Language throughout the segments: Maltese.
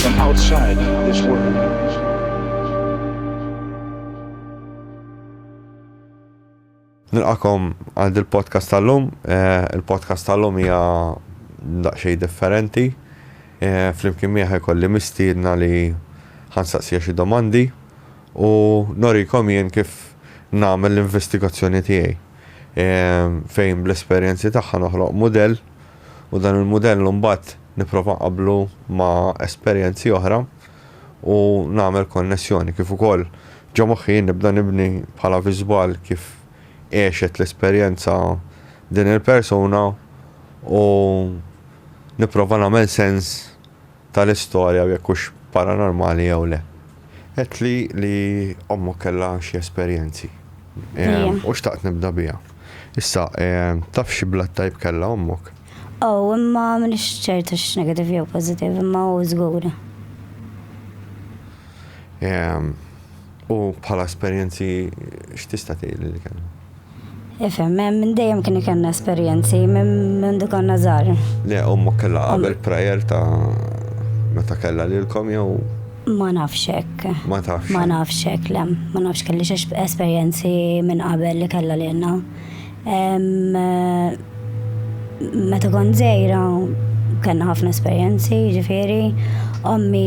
from outside this world. Nilqakom għal dil podcast tal-lum. Eh, il-podcast tal-lum hija daqsxejn differenti. Eh, flimkien miegħi kolli mistiedna li ħansaqsija xi domandi u norikom jien kif nagħmel l-investigazzjoni tiegħi. Eh, fejn bl-esperjenzi tagħha noħloq mudell u dan il-mudell imbagħad nipprova nqabblu ma' esperjenzi oħra u nagħmel konnessjoni kif ukoll ġo moħħi nibda nibni bħala viżwal kif għexet l-esperjenza din il-persuna u nipprova nagħmel sens tal-istorja u jekk hux paranormali jew le. Għedtli li ommok kellha xi esperjenzi. Ejja. U xtaqt nibda biha. Issa, taf xi blood type kellha ommok? O, imma m'iniex ċert hux negative jew positive, imma O żgur. U bħala esperjenzi x'tista' tgħidli li kellna? Ifhem, minn dejjem kien ikollna esperjenzi, mindu konna żgħar. Le, ommok kellha qabel prayer ta' meta kellha lilkom jew? Ma nafx hekk. Ma tafx? Ma nafx hekk, le. Ma nafx kelli xi esperjenzi minn qabel li kellha lilna. Meta kont żgħira kellna ħafna esperjenzi, jiġifieri, ommi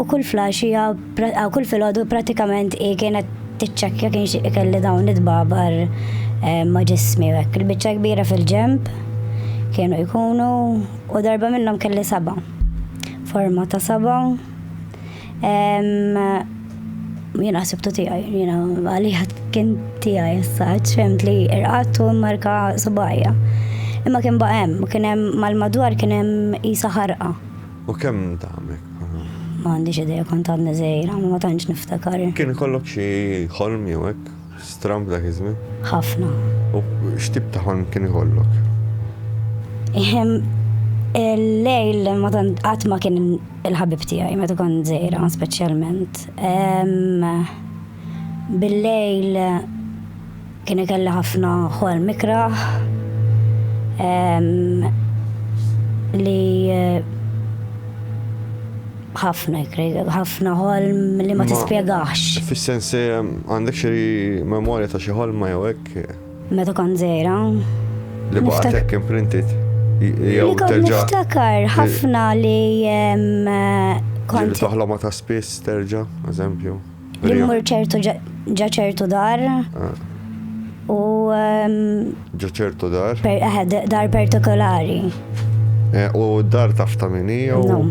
U kull flash hija kull filgħodu pratikament hi kienet tiċċekkja kien xi kelli dawn it-tbabar eh, ma' ġismi hekk. Il-biċċa kbira fil-ġemb kienu jkunu u darba minnhom kelli saba. Forma ta' saba. Jiena ħsibtu tiegħi, jiena għalija kien tiegħi s-saċ, fimt li irqattu marka subajja. Imma kien baqem, kien hemm mal-madwar kien hemm isa ħarqa. U kemm int għamlek? Ma għandix idea kont għadni żgħira, ma tantx niftakar. Kien ikollok xi ħolm jew hekk stramb dak iż-żmien? Ħafna. U x'tip ta' ħolm kien ikollok? Il-lejl ma tant qatt ma kien il-ħabib tiegħi meta kont żgħira speċjalment. Bil-lejl Kien ikelli ħafna ħolm ikrah li ħafna ħafna ħolm li ma tispjegax. Fis-sens għandek xi memorja ta' xi ħolma jew hekk? Meta kon żejra. Li baqgħet hekk imprinted. Jew terġa'. Niftakar ħafna li kont. Toħloma ta' spiss terġa', eżempju. Li mmur ċertu ġa ċertu dar. Ah. U. Ehm, ġa ċertu dar? Eh, dar partikolari. Eh, u dar taf ta' minni? No.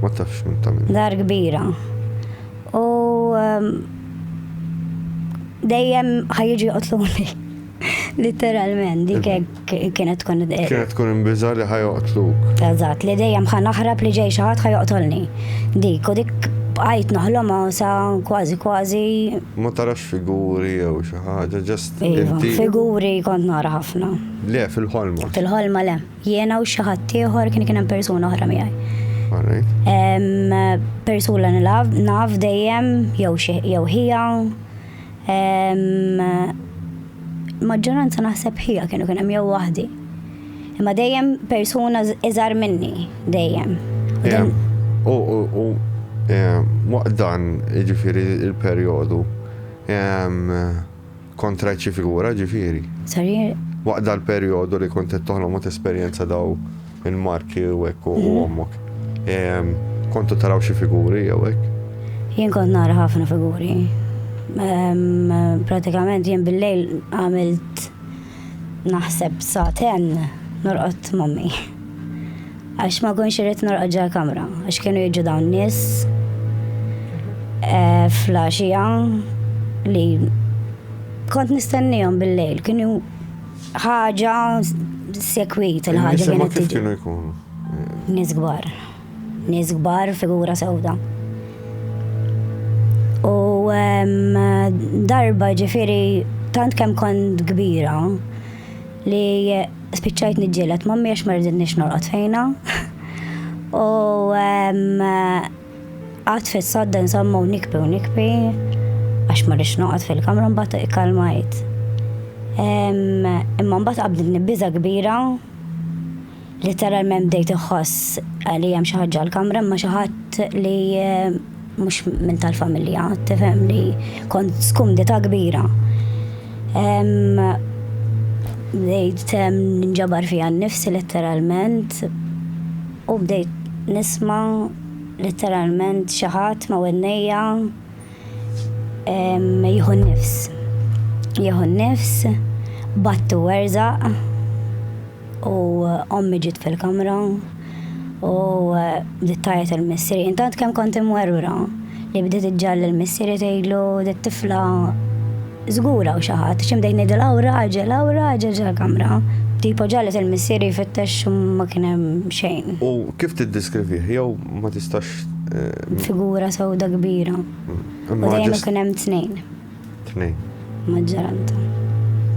Ma tafx minn ta' minni. Dar kbira. U. Ehm, dejjem ħajġi joqtluni. Literalment, dik kienet tkun. Kienet tkun imbiża li ħajoqtluk. Eżatt, li dejjem ħa naħrab li ġej xi ħadd ħajoqtolni. Dik u dik bqajt noħlomha sa kważi kważi. Ma tarax figuri jew xi ħaġa, ġast iva, inti. Figuri kont nara ħafna. Le, fil-ħolma. Fil-ħolma le. Jiena u xi ħadd ieħor kien kien hemm persuna oħra miegħi. Persuna naf dejjem jew ħija Maġġoranza naħseb ħija kienu kien hemm jew waħdi. Imma dejjem persuna iżar minni, dejjem. U waqt dan, ġifiri il-perjodu, kontra ċi figura ġifiri. Sorry? Waqt dal-perjodu li kont qed toħlom u tesperjenza daw Il-marki u hekk u mhm. ommok. Kontu taraw xi figuri jew hekk? Jien kont nara ħafna figuri. Pratikament jien bil-lejl għamilt naħseb saten norqot mommi. Għax ma konx irrit norqot ġa kamra, għax kienu jiġu dawn nis eh, flasġija li kont nistennijom bil-lejl, kienu Ħaġa sekwit il-ħaġa kienet tiġi. Kienu jkunu. Nies kbar. Nies kbar figura sewda. U darba ġifiri tant kemm kont kbira li spiċċajt niġġielet mammi għax ma rridniex norqod fejna. U Qgħadt fis-sadda nżamma u nikbi u nikbi għax ma rridx noqgħod fil-kamra mbagħad ikkalmajt. Imma mbagħad qabdilni biża' kbira literalment bdejt iħoss li hemm xi ħaġa l-kamra imma xi ħadd li mhux minn tal-familja, tifhem li kont skumdita kbira. Bdejt nġabar fija nnifsi letteralment. U bdejt nisma' litteralment xi ħadd ma' widnejja jieħu n-nifs. Jieħu n-nifs, battu werzaq u ommi ġiet fil-kamra u bdiet tajjed il-missieri. Intant kemm kont imwerwra li bdiet iġġalli l-missieri tgħidlu dit-tifla Żgur hawn xi ħadd, x'imdejn ngħidu Lawra, għaġġel Lawra, għaġġel ġol-kamra. Tipo ġalet il-missier jfittex u ma kien hemm xejn. U kif tiddeskrivih? Jew ma tistax. Eh, Figura sewda kbira. U dejjem ikun hemm tnejn. Tnejn. Maġġoranta.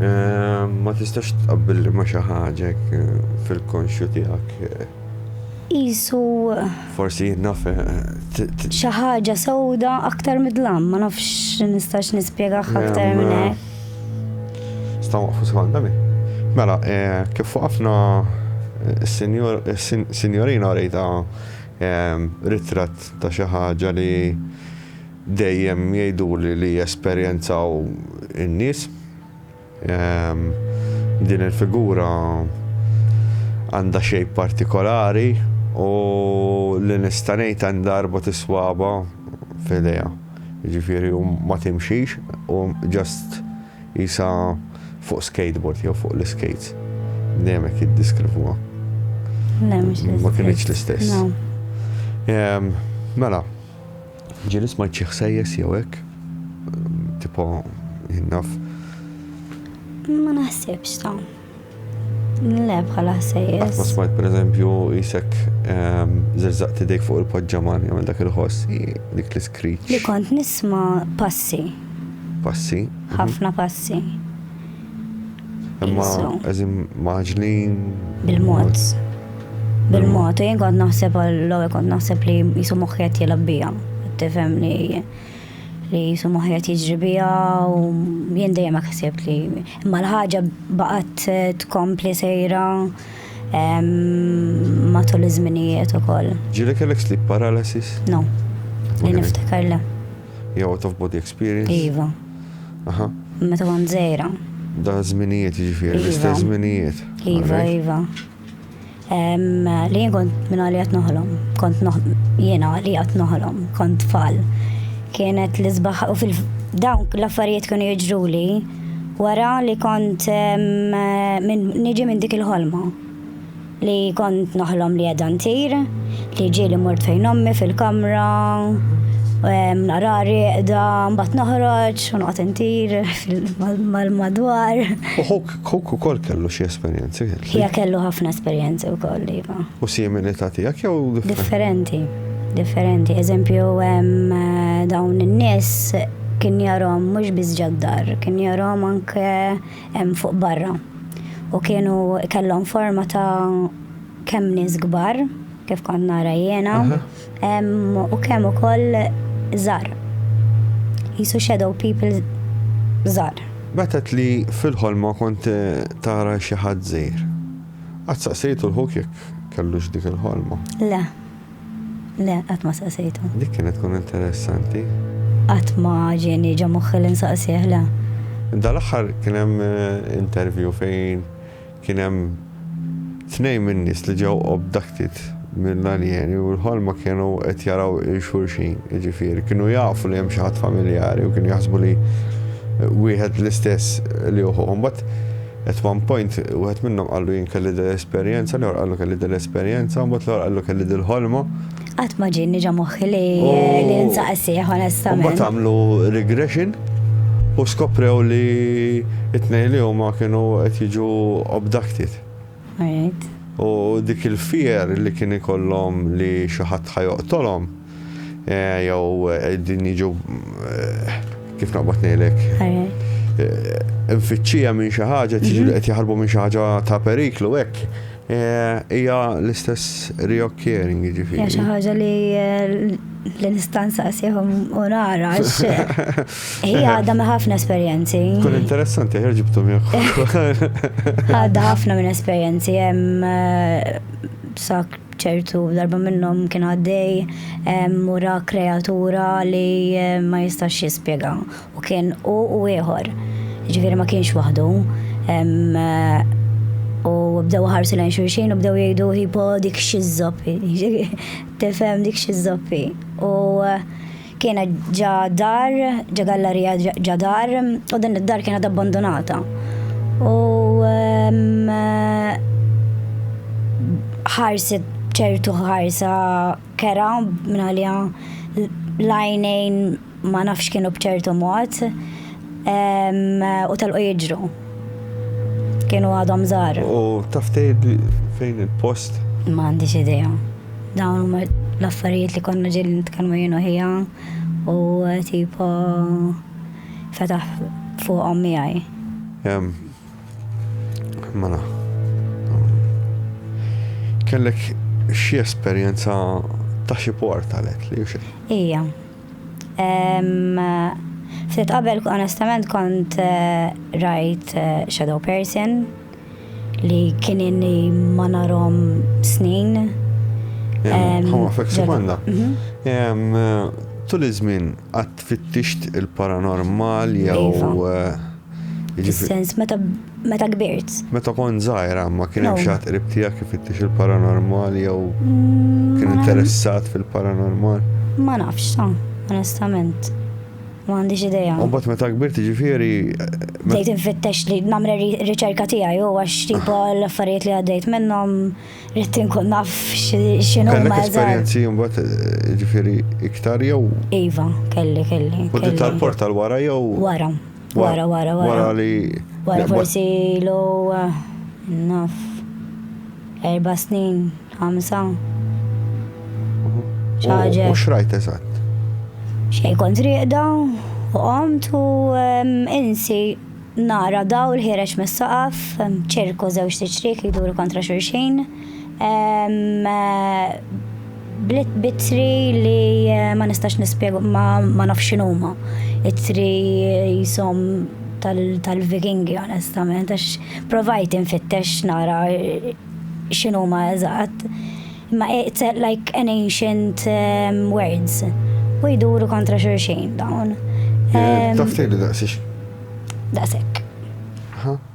Eh, ma tistax tqabbilli ma xi ħaġa eh, fil-konxju tiegħek. Isu Forsi naf. Xi ħaġa sewda aktar midlam, ma nafx nistax nispjegah aktar minn hekk. Sta' waqfu sekonda mi. Mela, eh, kif waqafna s-sinjorina rejta eh, ritratt ta' xi ħaġa li dejjem jgħiduli li jesperjenzaw in-nies. Din il-figura għandha xejn partikolari u li nista' ngħid għandha arba tiswaba f'idejha. Ġifieri ma timxix u ġast jisa fuq skateboard jew fuq l-skates. Dejjem hekk jiddiskrivuha. Ma kienx l-istess. Mela, Ġieli smajt xi ħsejjes jew hekk, tipo jien naf. Ma naħsibx ta. Le bħala ħsejjes. Ma smajt pereżempju jisek ehm, zerżaqt idejk fuq il-poġġaman jagħmel dak il-ħoss dik l-iskriċ. Li kont nisma' passi. Passi. Mhm. Ħafna passi. Imma Isu. eżim maġlin. Bil-mod. Bil-mod. U jien kont naħseb għall-ewwel kont naħseb li jisu moħħi qed jilgħab bija. Tifhem li li jisu moħħi qed jiġri bija u jien dejjem hekk ħsibt li imma l-ħaġa baqgħet eh, tkompli sejra em, matul iż-żminijiet ukoll. Ġili kellek sleep paralysis? No. Li niftakar le. Jew out of body experience? Iva. Aha. Meta kont żejra. Da żminijiet jiġifieri, iva. l-istess żminijiet. Iva, iva. Li jien kont minn għalli għat noħlom, kont jiena għalli għat noħlom, kont tfal. Kienet li zbaħ u fil-dawn l-affarijiet kienu jiġru li wara li kont niġi minn dik il-ħolma. Li kont noħlom li qiegħda ntir, li ġieli mort fejn ommi fil-kamra, nara rieqda, mbagħad noħroġ u noqgħod intir mal-madwar. U ħuk ukoll kellu xi esperjenzi? Hija kellu ħafna esperjenzi wkoll, iva. U similità tiegħek jew differenti? Differenti, differenti. Eżempju, dawn in-nies kien jarhom mhux biss ġad-dar, kien jarhom anke hemm fuq barra. U kienu kellhom forma ta' kemm nies kbar, kif kont nara jiena, u kemm ukoll żgħar. Jisu shadow people żgħar. Betet li fil-ħolma kont tara xi ħadd żgħir. Qatt saqsejtu l-ħuk jekk kellux dik il-ħolma? Le. Le, qatt ma saqsejtu. Dik kienet tkun interessanti. Qatt ma ġieni ġo moħħi li nsaqsih, le. Dal-aħħar kien hemm interview fejn kien hemm tnejn min-nies li ġew obducted mill-aljeni u l-ħolma kienu qed jaraw il-xulxin, jiġifieri kienu jafu li hemm xi ħadd familjari u kienu jaħsbu li wieħed l-istess li uħuhom. But At one point wieħed minnhom qallu jien kelli dil-esperjenza, l-ieħor qallu kelli dil-esperjenza, u mbagħad l-ieħor qallu kelli dil-ħolma. Qatt ma ġieni ġa moħħi li li nsaqsih onestament. Mbagħad għamlu regression u skoprew li it-tnejn li huma kienu qed jiġu abducted. U dik il-fear li kien ikollhom li xi ħadd ħajoqtolhom. Jew din jiġu kif naqbad ngħidlek. Infittxija minn xi ħaġa, tiġi mhm. qed jaħarbu minn xi ħaġa ta' periklu hekk. Eh, hija l-istess reoccurring, ġifiri. Hija xi ħaġa li eh, l-istanza qasihom u nara għax hija għadha me ħafna esperjenzi. Kun interessanti ħer ġibtu miegħek. Għadha ħafna minn esperjenzi hemm eh, sak ċertu darba minnhom kien għaddej u ra kreatura li ma jistax jispjega u kien hu u ieħor. Ġifieri ma kienx waħdu. U bdew ħarsu lejn xulxin u bdew jgħidu hipo dik xi żoppi. Tifhem dik xi żoppi. U Kienet ġa dar, ġa gallerija ġa dar, u din id-dar kienet abbandonata. U ehm, ħarset ċertu ħarsa kera minn għalija lajnejn ma nafx kienu bċertu mod ehm, u tal-u jġru. Kienu għadhom żgħar. U taf tgħid fejn il-post? Ma għandix idea. Dawn huma l-affarijiet li konna ġieli nitkellmu jien ħija u tipo fetaħ fuqhom miegħi. Mela. Kellek xi esperjenza ta' xi port għalek li xi? Ija, Ftit qabel onestament kont rajt shadow person li kien inni ma narom snin. Ħamma fek sekonda. Tul iż-żmien qatt fittixt il-paranormal jew. Fis-sens meta meta kbirt. Meta kont żgħira ma kien hemm xi ħadd qrib tiegħek ifittix il-paranormal jew mm, kien interessat fil-paranormal? Ma nafx, sa, onestament. Ma għandix idea. U bat meta kbirt ġifieri. Eh, Dejt infittex li namre riċerka tiegħi u għax tipo ah. l-affarijiet li għaddejt minnhom rrid inkun naf x'inhu ma Kellek esperjenzi mbagħad eh, ġifieri iktar jew? Iva, kelli, kelli. U tal-port tal-wara jew? Wara. Wara, wara, wara. Wara li. Wara forsi l naf. Erba snin, ħamsa. ċaġa. U xrajt eżatt? Xej kont riqda, u qomt u insi nara dawl ħireċ mis-saqaf, ċirku zewġ tiċrik jiduru kontra xurxin. Bliet bitri li eh, ma nistax nispjegu ma nafx x'inhuma. Itri jisom tal-Vikingi onestament għax provajt infittex nara eh, x'inhuma eżatt. Imma eh, it's like an ancient ehm, words. U jduru kontra xulxin dawn. Tafti li daqsix. Daqsek.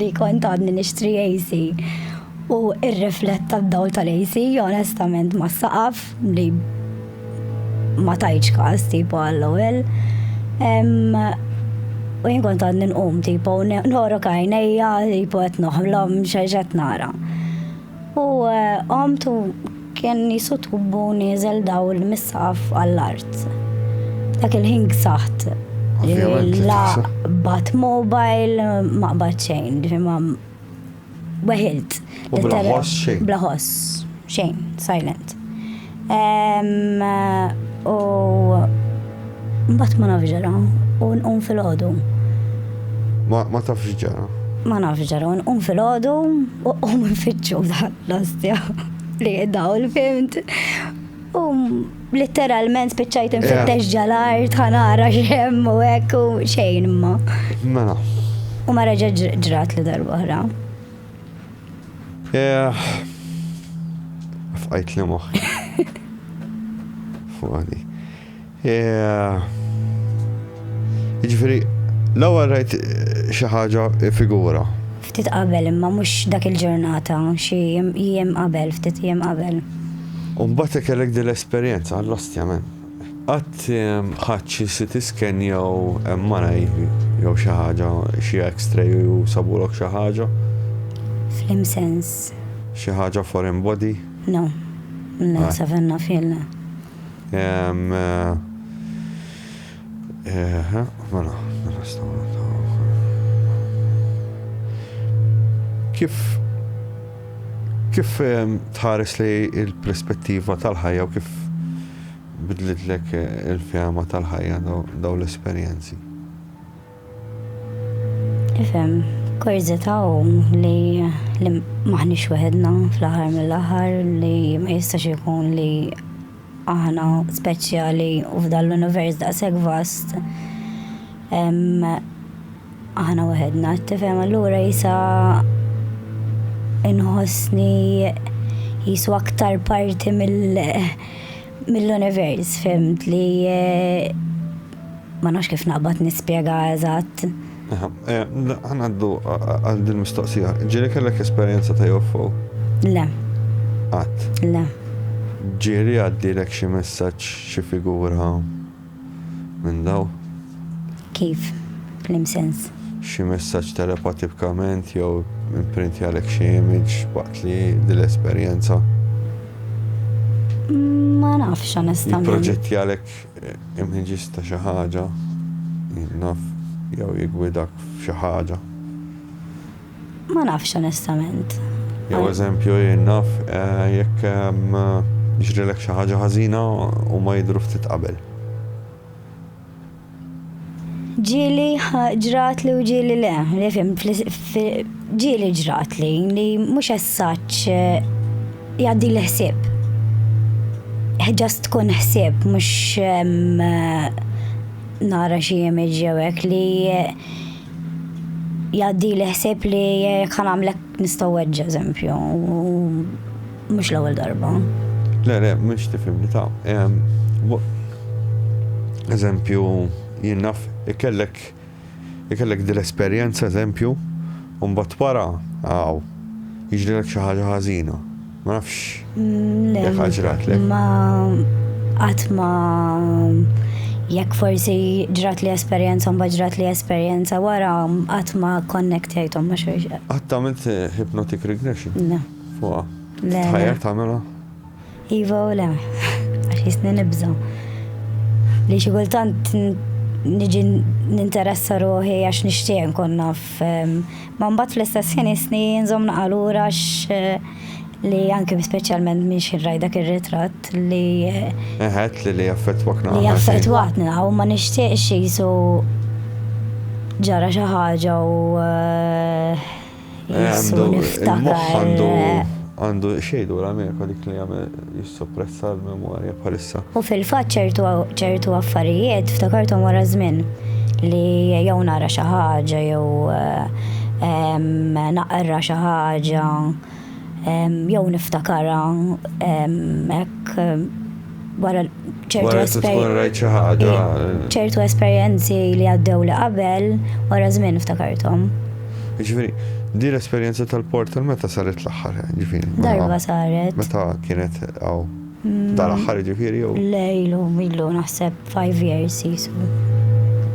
li kont għadni nixtri AC u ir-riflett tad-dawl tal-AC onestament ma saqaf li ma tajċ kas tipo għall-ewwel. U jien kont għadni nqum tipo norok għajnejja tipo qed noħlom xejn qed nara. U qomt u kien jisu tubbu nieżel dawl mis-saqaf għall-art. Dak il-ħin ksaħt. La bat mobile, ma qbad xejn, ma weħilt. Bla ħoss xejn. Bla ħoss xejn, silent. U mbagħad ma nafx ġara u nqum fil-ħodu. Ma tafx ġara. Ma nafx ġara, nqum fil-ħodu u qum nfittxu l-ostja li dawl fimt. U literalment spiċċajt infittex ġalar tħanara xemm u hekk u xejn ma. Mela. U ma reġa' ġrat li darba oħra. Eh, fqajt li moħħi. Fuqani. Eh, Ġifiri, l-ewwel rajt eh, xi ħaġa figura. Ftit qabel imma mhux dak il-ġurnata, xi jiem qabel, ftit jiem qabel. U mbagħad kellek din l-esperjenza għall-ostja men. Qatt ħadt xi CT scan jew MRI jew xi ħaġa, xi X-ray u sabulok xi ħaġa? Fl-im sens? Xi ħaġa foreign body? No. Le, sa fejn naf jien le. Eħe, mela, Kif kif tħares li l-perspettiva tal-ħajja u kif bidlitlek il-fehma tal-ħajja dawn l-esperjenzi? Ifhem, kurżità hu li m'aħniex weħedna fl-aħħar mill-aħħar li ma jistax ikun li aħna speċjali u f'dan l-univers daqshekk vast hemm Aħna waħedna, tifhem allura jisa inħossni jisu aktar parti mill-univers, fimt li eh, ma nafx kif naqbad nispjega eżatt. Eh, ħanaddu għal din mistoqsija. Ġiri kellek esperjenza ta' UFO? Le. Għat? Le. Ġiri għaddilek xi messaġġ xi figura? minn dawn. Kif? F'liem sens? Xi messaġġ telepatipkament jew imprintjalek xi image waqt li din l-esperjenza? Ma nafx onestament. Jipproġettjalek imħiġis ta' xi ħaġa, naf, jew jiggwidak f'xi ħaġa. Ma nafx onestament. Jew eżempju jien naf jekk jiġrilek xi ħaġa ħażina huma jidhru ftit qabel. Ġieli ġratli u ġieli le, li fim ġieli ġratli li mhux essaċ jgħaddi l-ħsieb. Ġast tkun ħsieb mhux nara xi image jew hekk li jgħaddi li ħseb li jekk ħanamlek nistgħu weġġ eżempju, mhux l-ewwel darba. Le, le, mhux tifhimni ta' eżempju jien naf ikellek ikellek dil-esperjenza eżempju u mbagħad wara għaw jiġrilek xi ħaġa ħażina. Ma nafx. Le. Jekk ġratlek. Ma qatt ma jekk forsi ġrat li esperjenza mbagħad ġrat li esperjenza wara qatt ma connectajthom ma xejn. Qatt għamilt eh, hypnotic regression? Le. Fuqa. Le. Tħajjar tagħmilha? Iva u le. Għax jisni nibża. Li xi kultant niġi ninteressa ruħi għax nixtieq nkun naf ehm, Ma mbagħad fl-istess ħin isni nżomm naqa' lura għax li anke speċjalment minn xi raj dak ir-ritratt li. Eħet li li jaffettwak naqa'. Li jaffettwatni naqa' u ma nixtieqx jisu ġara xi ħaġa u eh, jisu niftakar. Għandu eh. xejdu l-Amerika dik li jagħmel jissoppressa l-memorja bħalissa. U fil-fatt ċertu ċertu affarijiet ftakarthom wara żmien li jew nara xi ħaġa jew ehm, naqra xi ħaġa ehm, jew niftakarha ehm, hekk wara ċertu esperjenzi li għaddew li qabel wara żmien ftakarthom. Ġifieri, din l-esperjenza tal-portal meta saret l-aħħar? Ġifieri. Darba saret. Meta kienet hawn? Mm. Dal-aħħar ġifieri jew? Le ilu ilu naħseb 5 years jisu.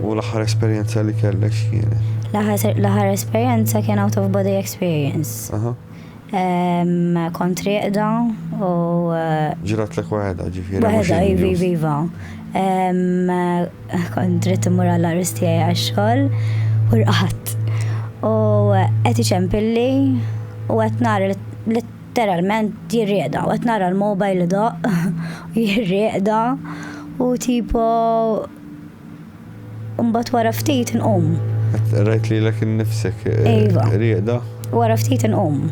U l-aħħar esperjenza li kellek x'kienet? L-aħħar esperjenza kien out of body experience. Kont rieqda u. Ġratlek waħedha, ġifieri mhux in-news. Waħedha, iva, iva, iva. Kont ridt immur għall-għarus tiegħi għax-xogħol u rqadt. U qed iċempilli u qed nara litteralment jirriegħda u qed nara l-mobile idoqq u jirriegħda u tipo. Imbagħad wara ftit inqum. Rajt lilek innifsek eh, Iva. rieqda. Wara ftit inqum.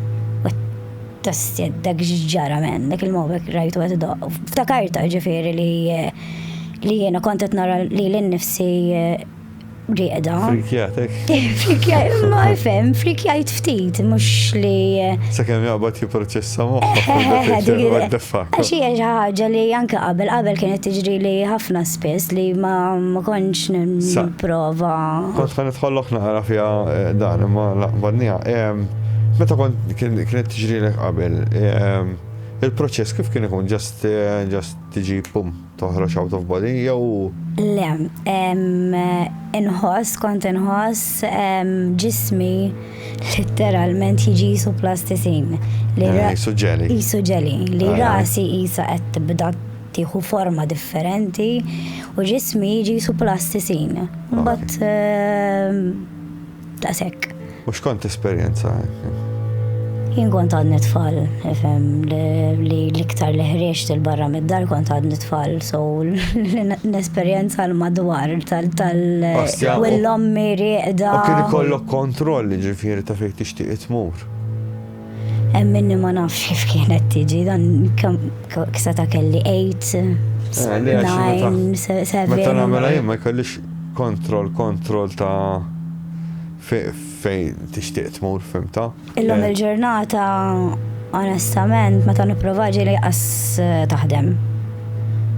Tasted dak ġara men, dak il-mobek rajtu qed idoq. Ftakarta ġifieri li eh, li jiena kont qed nara li l-nifsi eh, rieqda. Frikjatek. Frikjaj, ma fem, frikjajt ftit, mhux li eh, Sakemm jaqbad jipproċessa moħħok. Eħe, dik- What the fuck. Għax hija xi ħaġa li anke qabel qabel kienet tiġri li ħafna Spiss li ma kontx nipprova. Kont ħan nidħollok naqra fiha eh, dan imma laqbadnija. Meta kont kienet tiġrilek qabel, il-proċess kif kien ikun ġast eh, ġast tiġi pum toħroġ out of body jew. Le, inħoss kont inħoss ġismi literalment jiġi jisu plastisin. Li eh, jisu ġeli. Jisu ġeli. Li rasi jisa qed tibda tieħu forma differenti u ġismi jiġi jisu plastisin. Mbagħad ehm, daqshekk. U x'kont esperjenza Jien kont għadni tfal, ifhem li l-iktar li ħrieġt il-barra mid-dar kont għadni tfal, so l-esperjenza l-madwar tal-l-ommi rieqda. U kien ikollok kontroll ġifieri ta' fejn tixtieq tmur. Hemm minni ma nafx kif kienet tiġi dan kisa ta' kelli 8 9 7 Meta nagħmel jien ma jkollix kontroll kontroll ta' fejn tixtieq tmur fimta. Illum eh. il-ġurnata onestament meta nipprova ġieli qas eh, taħdem.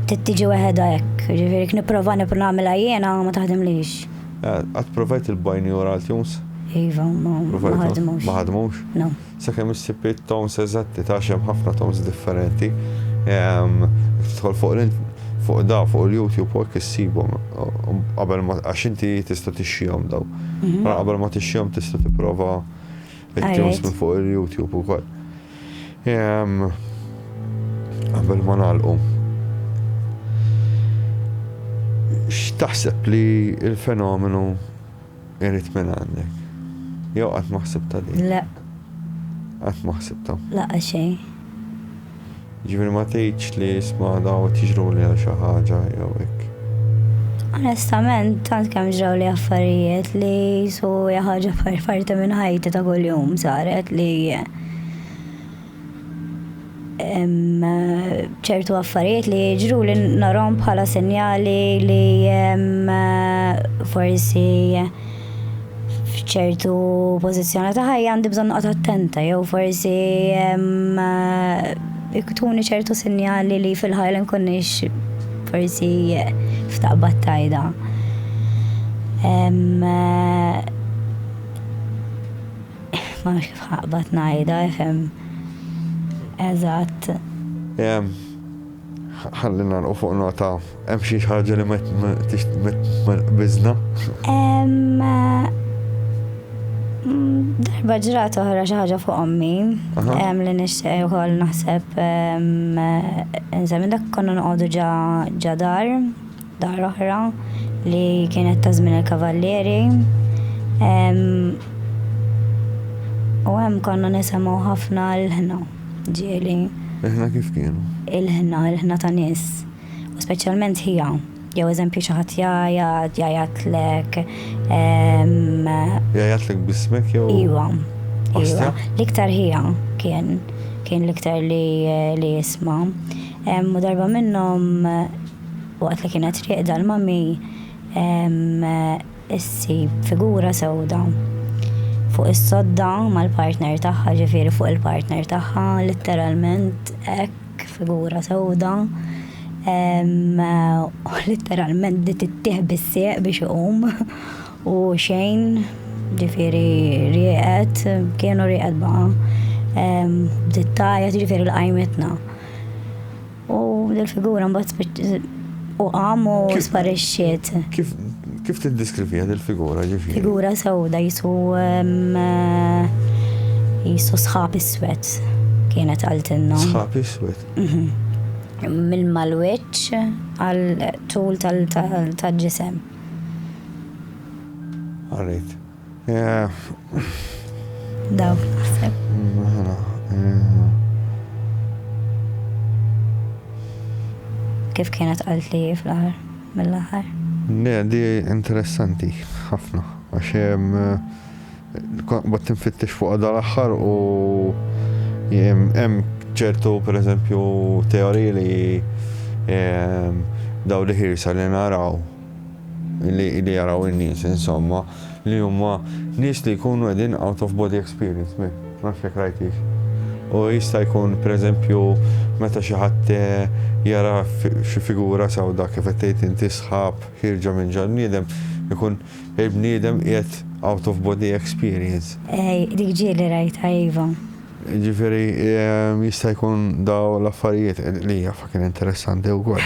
Tittiġi weħeda hekk, ġifieri nipprova nipprova nagħmilha jiena ma taħdimlix. Qatt provajt il-bineural tunes? Iva, ma ħadmux. Ma ħadmux? No. Sakemm issib it-tones eżatti ta' għax hemm ħafna tones differenti. Tidħol fuq fuq da, fuq il-YouTube u hekk issibhom qabel ma għax inti tista' tixxihom daw. Qabel ma tixxihom tista' tipprova It-tunes minn fuq il-YouTube u koll. Għabel ma nalqu. X'taħseb li il-fenomenu irrit minn għandek? Jew qatt maħseb ta' din? Le. Qatt maħseb ta'? Laqa xejn. Jiġifieri ma tgħidx li isma' dawn qed jiġruli għal xi ħaġa jew hekk. Onestament tant kemm ġrawli affarijiet li su hija ħaġa parti minn ħajti ta' kuljum saret li ċertu affarijiet li jiġru li narhom bħala sinjali li forsi f'ċertu pożizzjoni ta' ħajja għandi bżonn noqgħod attenta jew forsi iktuni ċertu sinjali li fil-ħajja nkunniex forsi f'taqbad tajda. Ma nafx kif ħaqbad ngħidha, fem. Eżatt. Ħalli nagħlqu fuq nota hemm xi ħaġa li ma tqbiżna. Hemm darba ġrat oħra xi ħaġa fuq ommi. Hemm li nixtieq ukoll naħseb insemmi dak konna noqogħdu ġa dar, dar oħra li kienet ta' żmien il-kavallieri. U hemm konna nisimgħu ħafna l-ħna. ġieli. Il-ħna kif kienu? Il-ħna, il-ħna ta' nies, u speċjalment ħija, jew eżempju xi ħadd jgħajjat, jgħajatlek. Jgħajatlek bismek jew? Iwa. Iwa. L-iktar ħija kien kien l-iktar li li jisma. U darba minnhom waqt li kienet rieqda l-mami issib figura sewda fuq is-sodda mal-partner tagħha, ġifieri fuq il-partner tagħha, litteralment hekk figura sewda. Litteralment li tittieħ bis-sieq biex iqum u xejn, ġifieri rieqed, kienu rieqed baqa'. Bdiet tgħajjat, jiġifieri lqajmitna. U dil-figura mbagħad u qam u sparixxiet. Kif kif tiddeskrivija dil-figura ġifieri? Figura sewda jisu jisu sħab iswed kienet għaltinna. Sħab iswed. Mhm mill-malweċ għal tul tal-ġisem. Għarrit. Dawk naħseb. Kif kienet għalt li fl-aħħar mill-aħħar? Ne, di interessanti ħafna għax hemm bat tinfittex fuq għadha l-aħħar u hemm ċertu pereżempju teoriji li daw li ħirsa li naraw li li jaraw in-nies insomma li huma nies li jkunu qegħdin out of body experience me ma nafx jekk rajtix. U jista' jkun pereżempju meta xi ħadd eh, jara xi figura sewda kif qed tgħid inti sħab ħirġa minn ġal bniedem ikun il-bniedem qiegħed out of body experience. Ej, dik ġieli rajtha iva. Ġifieri eh, jista' jkun daw l-affarijiet li hija fucking interessanti wkoll.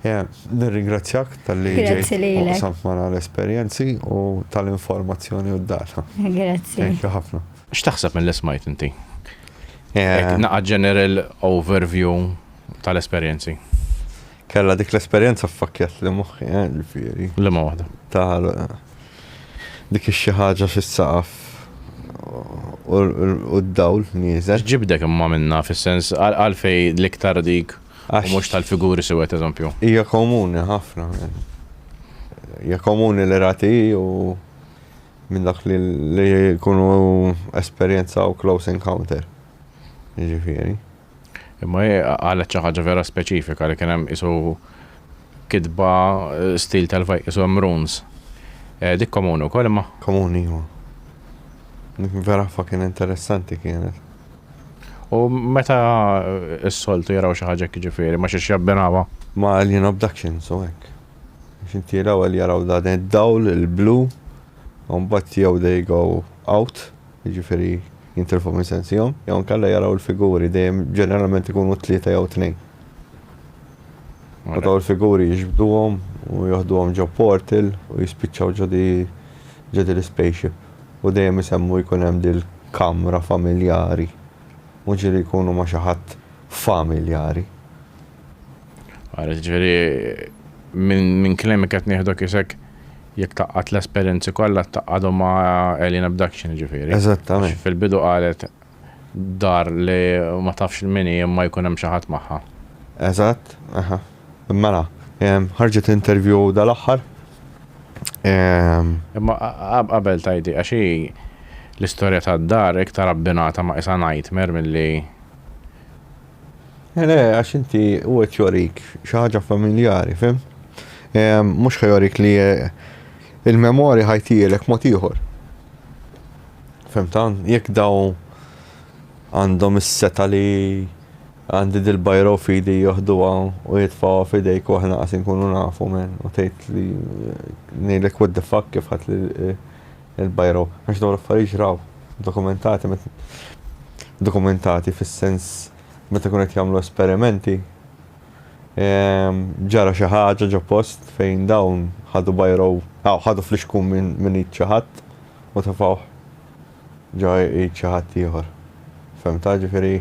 Nirringrazzjak tal-li ġejt u qsamt magħna l-esperjenzi u tal-informazzjoni u d-data. Grazzi. Thank you ħafna. X'taħseb milli smajt inti? Naqgħad general overview tal-esperjenzi. Kellha dik l-esperjenza ffakkjatli moħħi, ġifieri. Liema waħda? Ta' dik ix-xi ħaġa fis-saqaf u d-dawl nieżel. X'ġibdek imma minnha fis-sens għalfejn l-iktar dik? u mhux tal-figuri siwed eżempju. Hija komuni ħafna. Hija komuni li rati u minn dak li jkunu esperjenzaw close encounter. Ġifieri. Imma hi qalet xi ħaġa vera speċifika li kien hemm isu kitba eh, stil tal-fajk isu hemm runes. Eh, dik komuni wkoll imma. Komuni huwa. Dik vera fucking interessanti kienet. U meta s-soltu jaraw xi ħaġa jiġifieri ma xiex jabbinawha? Ma' Alien Abduction, so hekk. Għax inti l-ewwel jaraw dan id-dawl il-blu, u mbagħad jew they go out, jiġifieri jintilfu minn sensihom, jew inkella jaraw il-figuri, dejjem ġeneralment ikunu tlieta jew tnejn. U dawn il-figuri jiġbduhom u joħduhom ġo portal u jispiċċaw ġo di l-ispaceship. u dejjem isemmu jkun hemm dil-kamra familjari, mhux li jkunu ma' xi ħadd familjari. Ara, jiġifieri minn kliemk qed nieħdok isek jekk tgħaqqad l-esperjenzi kollha tgħaqqadhom ma' Alien Abduction jiġifieri. Eżattament. Fil-bidu qalet Dar li ma tafx il min hi imma jkun hemm xi ħadd magħha. Eżatt, aha. Mela, ħarġet interview dal-aħħar. Imma qabel tgħidi għax hi l-istorja tad-dar iktar abbinata ma' qisha nightmare milli. Le, għax inti hu qed jorik xi ħaġa familjari, fhimt? Mhux ħa jorik li il-memorja ħa jtihilek mod ieħor. Fehmt hawn? Jekk dawn għandhom is-setgħa li għandi dil-bajra u fidi joħduha u jitfgħuha f'idejk u aħna qas inkunu nafu men u tgħid li ngħidlek what the fuck kif ħadt il-bajra u għax dawn l-affarijiet ġraw dokumentati dokumentati fis-sens meta kienu qed jagħmlu esperimenti Ehm, ġara xi ħaġa ġo post fejn dawn ħadu bajrow, aw ħadu flixkun minn id xi ħadd u tefgħuh ġo id xi ħadd ieħor. Fehmtha? Ġifieri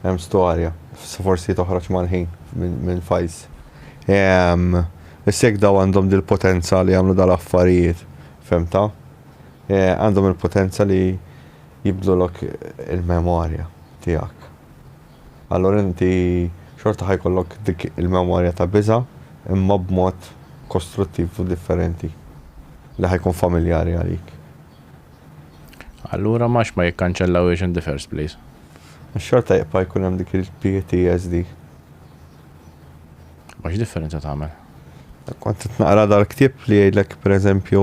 hemm storja. Forsi toħroġ mal-ħin minn files. Ehm, issa jekk daw għandhom dil-potenza li jagħmlu dal-affarijiet, fehmtha? Eh, għandhom il-potenza li jibdlulok il-memorja tiegħek. allura inti xorta ħa jkollok dik il-memorja ta' biża' imma b'mod kostruttiv u differenti li ħa jkun familjari għalik. Allura m'għax ma jikkanċellawhiex in the first place? Għax xorta jibqa' jkun hemm dik il-PTSD. Ma x'differenza tagħmel? Kont qed naqra dal-ktieb li jgħidlek pereżempju,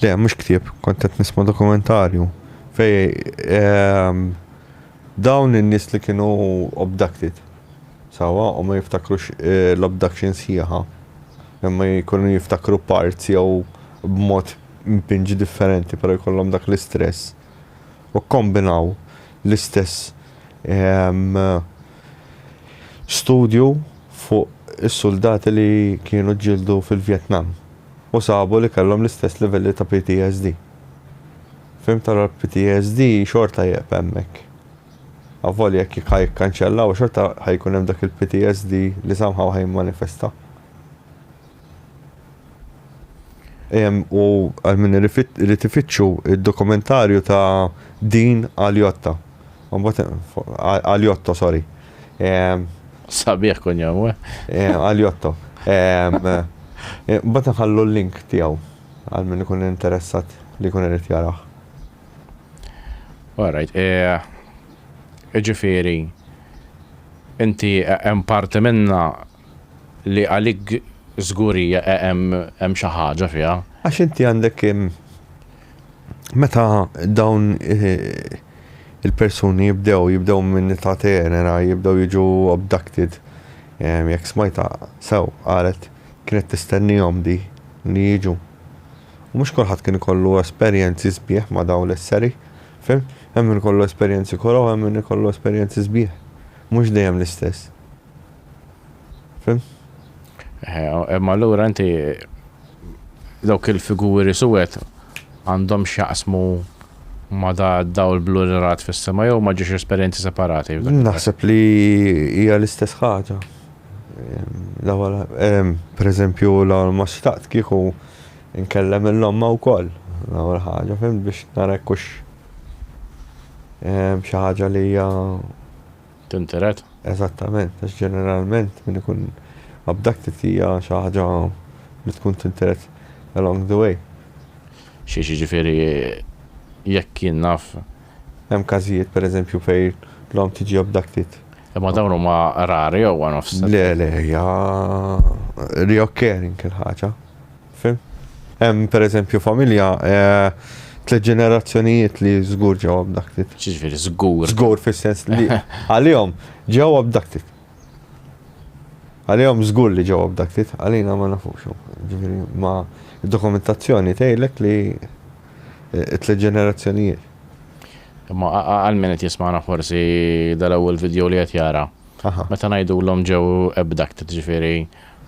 Le, mhux ktieb, kont qed nisma' dokumentarju fej ehm, dawn in-nies li kienu abducted. Sawa, u ma jiftakrux eh, l-abduction sħiħa. Imma jkunu jiftakru parts jew b'mod mpinġi differenti, però jkollhom dak l-istress. U kombinaw l-istess ehm, studju fuq is-suldati li kienu ġildu fil-Vjetnam. u sabu li kellhom l-istess livelli ta' PTSD. Fhimt allura l-PTSD xorta jgħeb hemmhekk. Avolja jekk ħa jikkanċellaw xorta ħa jkun hemm dak il-PTSD li somehow ħa jimmanifesta. Ehm, u għal min irid ifittxu d-dokumentarju ta' Dean Aliotta. Għaliotto, sorry. Sabiħ kun jom, we? Għaliotto. Bat nħallu l-link tijaw għal minn ikun interessat li kun irrit jaraħ. All right. Ġifiri, inti hemm parti minna li għalik żgurija hemm xi ħaġa fiha. Għax inti għandek meta dawn il-persuni jibdew, jibdew minn ta' tenera, jibdew jiġu abducted, jekk smajta sew qalet kienet tistennihom di li jiġu. U mhux kulħadd kien ikollu esperjenzi sbieħ ma' dawn l-esseri, fim? Hemm min ikollu esperjenzi koroh, hemm min ikollu esperjenzi sbieħ. Mhux dejjem l-istess. Fim? Imma l-ura inti dawk il-figuri suwet għandhom xaqsmu ma da daw l-blu li rat fis-sema jew ma ġiex esperjenzi separati. Naħseb li hija l-istess ħaġa. Per eżempju, la ma xtaqt kieku nkellem il-lomma u koll. L-għol ħaġa, fim biex narekkux xaħġa li hija Tintered? Eżattament, għax ġeneralment min ikun abducted hija xi ħaġa li tkun tintered along the way. Xiex, jiġifieri jekk jien naf. Hemm każijiet pereżempju fejn l-omm tiġi abducted. Imma dawn huma rari jew one-offs? Le, le, hija reoccurring il-ħaġa. Fim? Hemm pereżempju familja tliet ġenerazzjonijiet li żgur ġew abducted. Xiġifieri żgur. Żgur fis-sens li għalihom ġew abducted. Għalihom żgur li ġew abducted, għalina ma nafux. Ġifieri ma dokumentazzjoni tgħidlek li eh, tliet ġenerazzjonijiet. Imma għal min qed jismana forsi dal-ewwel video li qed jara. Meta ngħidu l-om ġew abducted ġifieri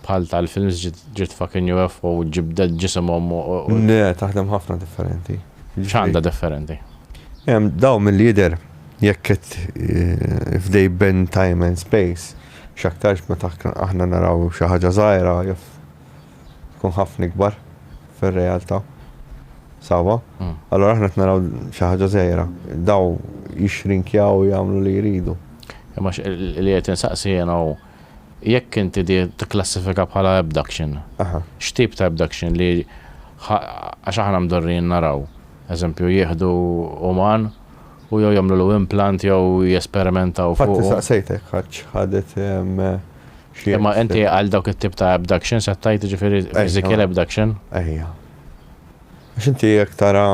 Bħal tal-films ġiet fucking UFO u ġibdet ġisimhom u. Le, taħdem ħafna differenti. X'għandha differenti? Dawn milli jidher jekk qed if they bend time and space x'aktarx meta aħna naraw xi ħaġa żgħira jaf tkun ħafna ikbar fir-realtà. Sawwa? Allura aħna qed naraw xi ħaġa żgħira. Dawn jixxrinkjaw u jagħmlu li jridu. Imma li qed insaqsi jiena hu Jekk inti tikklassifika bħala abduction, x'tip ta' abduction li għax aħna mdorrijin naraw, eżempju, jieħdu uman u jew jagħmlulu implant jew jesperimentaw fuqu. Infatti saqsejtek għax ħadet xi. Imma inti għal dawk it-tip ta' abductions qed tgħid jiġifieri physical abduction? Ejja. Għax inti jekk tara.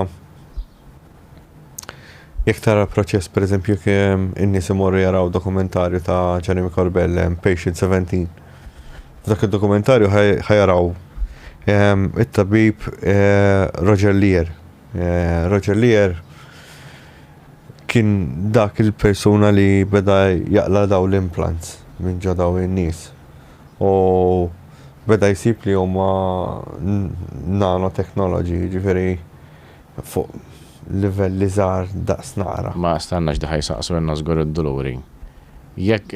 Jekk tara proċess pereżempju jekk ehm, in-nies imorru jaraw dokumentarju ta' Jeremy Corbell ehm, Patient 17. F'dak id-dokumentarju ħajaraw ehm, it-tabib eh, Roger Lear. Eh, Roger Lear kien dak il-persuna li beda jaqla daw l-implants minn ġo daw in-nies. U beda jsib li huma nanotechnology, ġifieri Fuq livelli żgħar daqs naqra. Ma stennax li ħa jsaqsu ilna żgur id-duluri. Jekk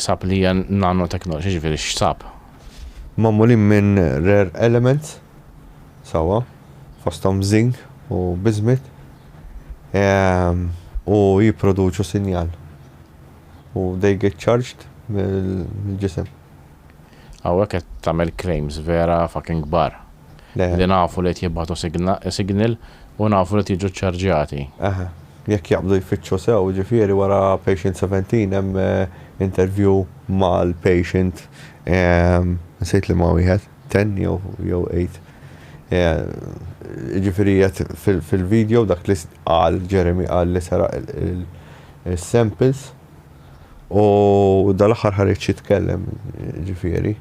sab li hija nanotechnology jiġifieri x'sab? Magħmulin minn rare elements sewwa fosthom zinc u bismuth u jipproduċu sinjal u they get charged mill-ġisem. Hawnhekk qed tagħmel claims vera fucking kbar. Li nafu li qed jibgħatu signal u nafu li qed jiġu ċċarġjati. Eħe. Jekk jaqbdu jfittxu sew, jiġifieri wara patient 17 hemm interview mal-patient nsejt liema wieħed, 10 jew 8. Jiġifieri qed fil-video dak li qal Jeremy qal li seraq is-samples. U dal-aħħar ħareġ jitkellem, ġifieri,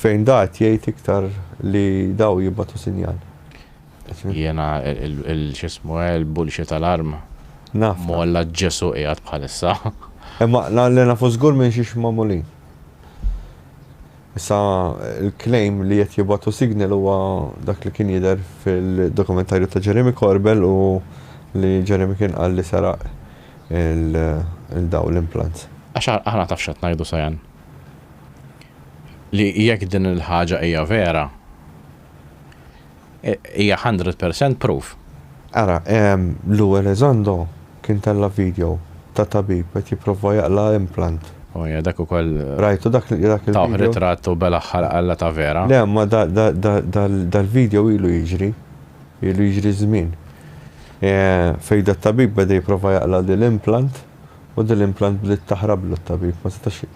fejn dat jgħid iktar li daw jibbatu sinjal. Jena il-xismu il-bulxi tal-arm. Naf. Molla ġesu qiegħed bħalissa. Imma l-għalli nafu żgur minn xiex mamulin. Issa l-claim li qed jibgħatu signal huwa dak li kien jidher fil-dokumentarju ta' Jeremy Corbell u li Jeremy kien qal li seraq il-dawn l-implants. Għax aħna taf x'qed ngħidu Sayan? Li jekk din il-ħaġa hija vera. Hija hundred percent proof. Ara, Lou Elizondo kien tella' video ta' tabib qed jipprova jaqla' implant. O ja, dak ukoll. Rajtu dak il-video? Tawh ritratt u belaħħar qalla ta' vera. Le, imma dal-video ilu jiġri. Ilu jiġri żmien. Fejn dat-tabib beda jipprova jaqla' dil-implant u dil-implant bdiet taħrablu t-tabib, ma setax.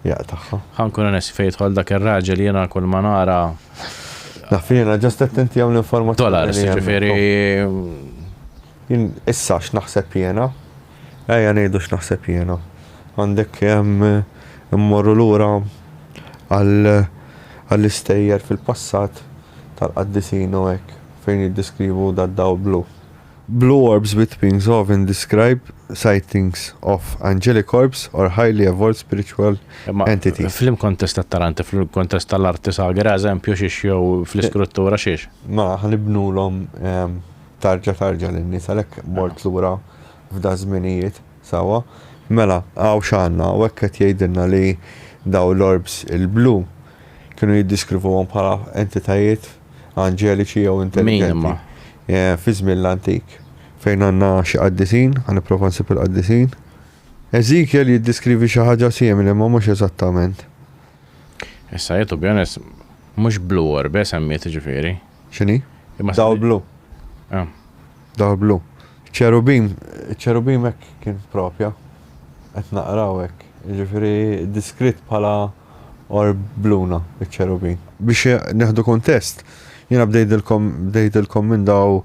jaqtagħha. Ħa nkun onesti fejn jidħol dak ir-raġel jiena kull ma nara. Naf jiena ġast qed inti hawn l-informazzjoni. Dollars, jiġifieri. Issa x'naħseb jiena? Ejja ngħidu x'naħseb jiena. Għandek immorru lura għall-istejjer fil-passat tal-qaddisin u hekk fejn jiddeskrivu dad-dawl blu. Blue orbs with wings often describe sightings of angelic orbs or highly evolved spiritual entities. Imma flimkontest tat-taranti, flimkontest tal-arti sagra, eżempju xiex jew fl-iskruttura xiex? Mela, ħa nibnulhom tarġa tarġa lin-nies għalhekk mort lura f'daż-żminijiet, sewwa. Mela, hawn x'għandna, hawnhekk qed jgħidilna li dawn l-orbs il-blu kienu jiddiskrivuhom bħala entitajiet anġeliċi jew intelligenti. Eh, fi żmien l-antik. Fejn għandna xi qaddisin, għan nipprova nsib il-qaddisin. Ezekiel jiddiskrivi xi ħaġa simili ma mhux eżattament. Issa jitu bjones mhux blu orbe semmiet ġifieri. X'inhi? Dawl blu. Ah. Dawl blu. Ċerubim, iċ-ċerubim hekk kien propja, qed naqra hawnhekk, jiġifieri deskritt bħala orb bluna iċ-ċerubim. Biex nieħdu kuntest, jiena bdejtilkom bdejtilkom minn daw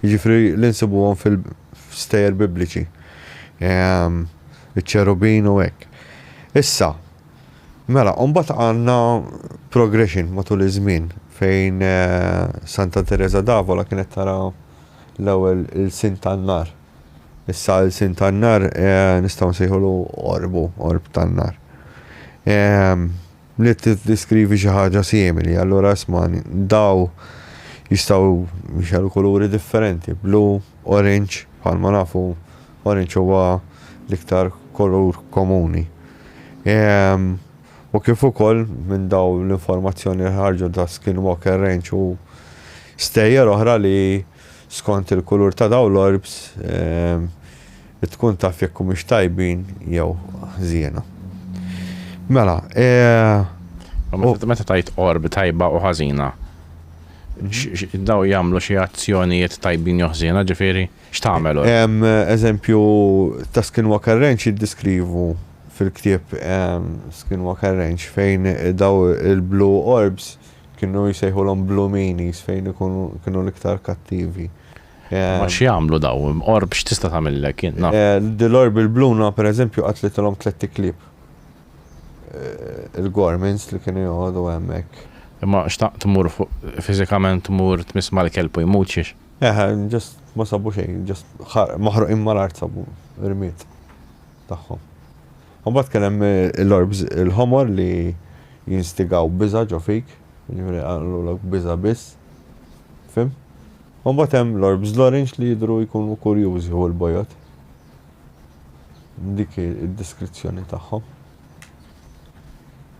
jiġifieri li nsibuhom fil-stejjer Bibliċi, iċ-ċerubin u hekk. Issa, Mela, u mbagħad għandna progression matul iż-żmien fejn Santa Teresa d'Avola kienet tara l-ewwel ilsien tan-nar. Issa ilsien tan-nar nistgħu nsejħulu orbu, orb tan-nar. Li tiddiskrivi xi ħaġa simili, allura isma' daw jistgħu jxerru kuluri differenti, blu, orange, bħalma nafu Oranġ huwa l-iktar kolur komuni. U kif ukoll minn daw l-informazzjoni li ħarġu ta' Skinwalker Ranch u stejjer oħra li skont il-kulur ta' daw l-orbs tkun taf jekk humiex tajbin jew ħżiena. Mela, Meta tgħid orb tajba u ħażina, daw jagħmlu xi azzjonijiet tajbin jew ħżiena, ġifieri? X'tagħmel hu? Hemm eżempju ta' Skinwalker Ranch jiddeskrivu fil-ktieb Skinwalker Ranch fejn dawn il-blue orbs kienu jsejħulhom blue meanies fejn ikunu kienu l-iktar kattivi. Ma x'jagħmlu dawn? Orb x'tista' tagħmillek int? Dil-orb il-bluna pereżempju qatlitilhom tlett iklieb. Il-gormins li kienu joqogħdu hemmhekk. Imma xtaqt tmur fuq fiżikament tmur tmiss mal-kelb u jmut xiex? Eħe, just ma sabu xejn, just maħruqin mal-art sabu rmiet tagħhom. Mbagħad kien hemm l-orbs il-ħomor li jinstigaw biża' ġo fik, jiġifieri għamlulek biża' biss. Fim? U mbagħad hemm l-orbs l-orange li jidhru jkunu kurjużi u l-bojod. Dik id-deskrizzjoni tagħhom.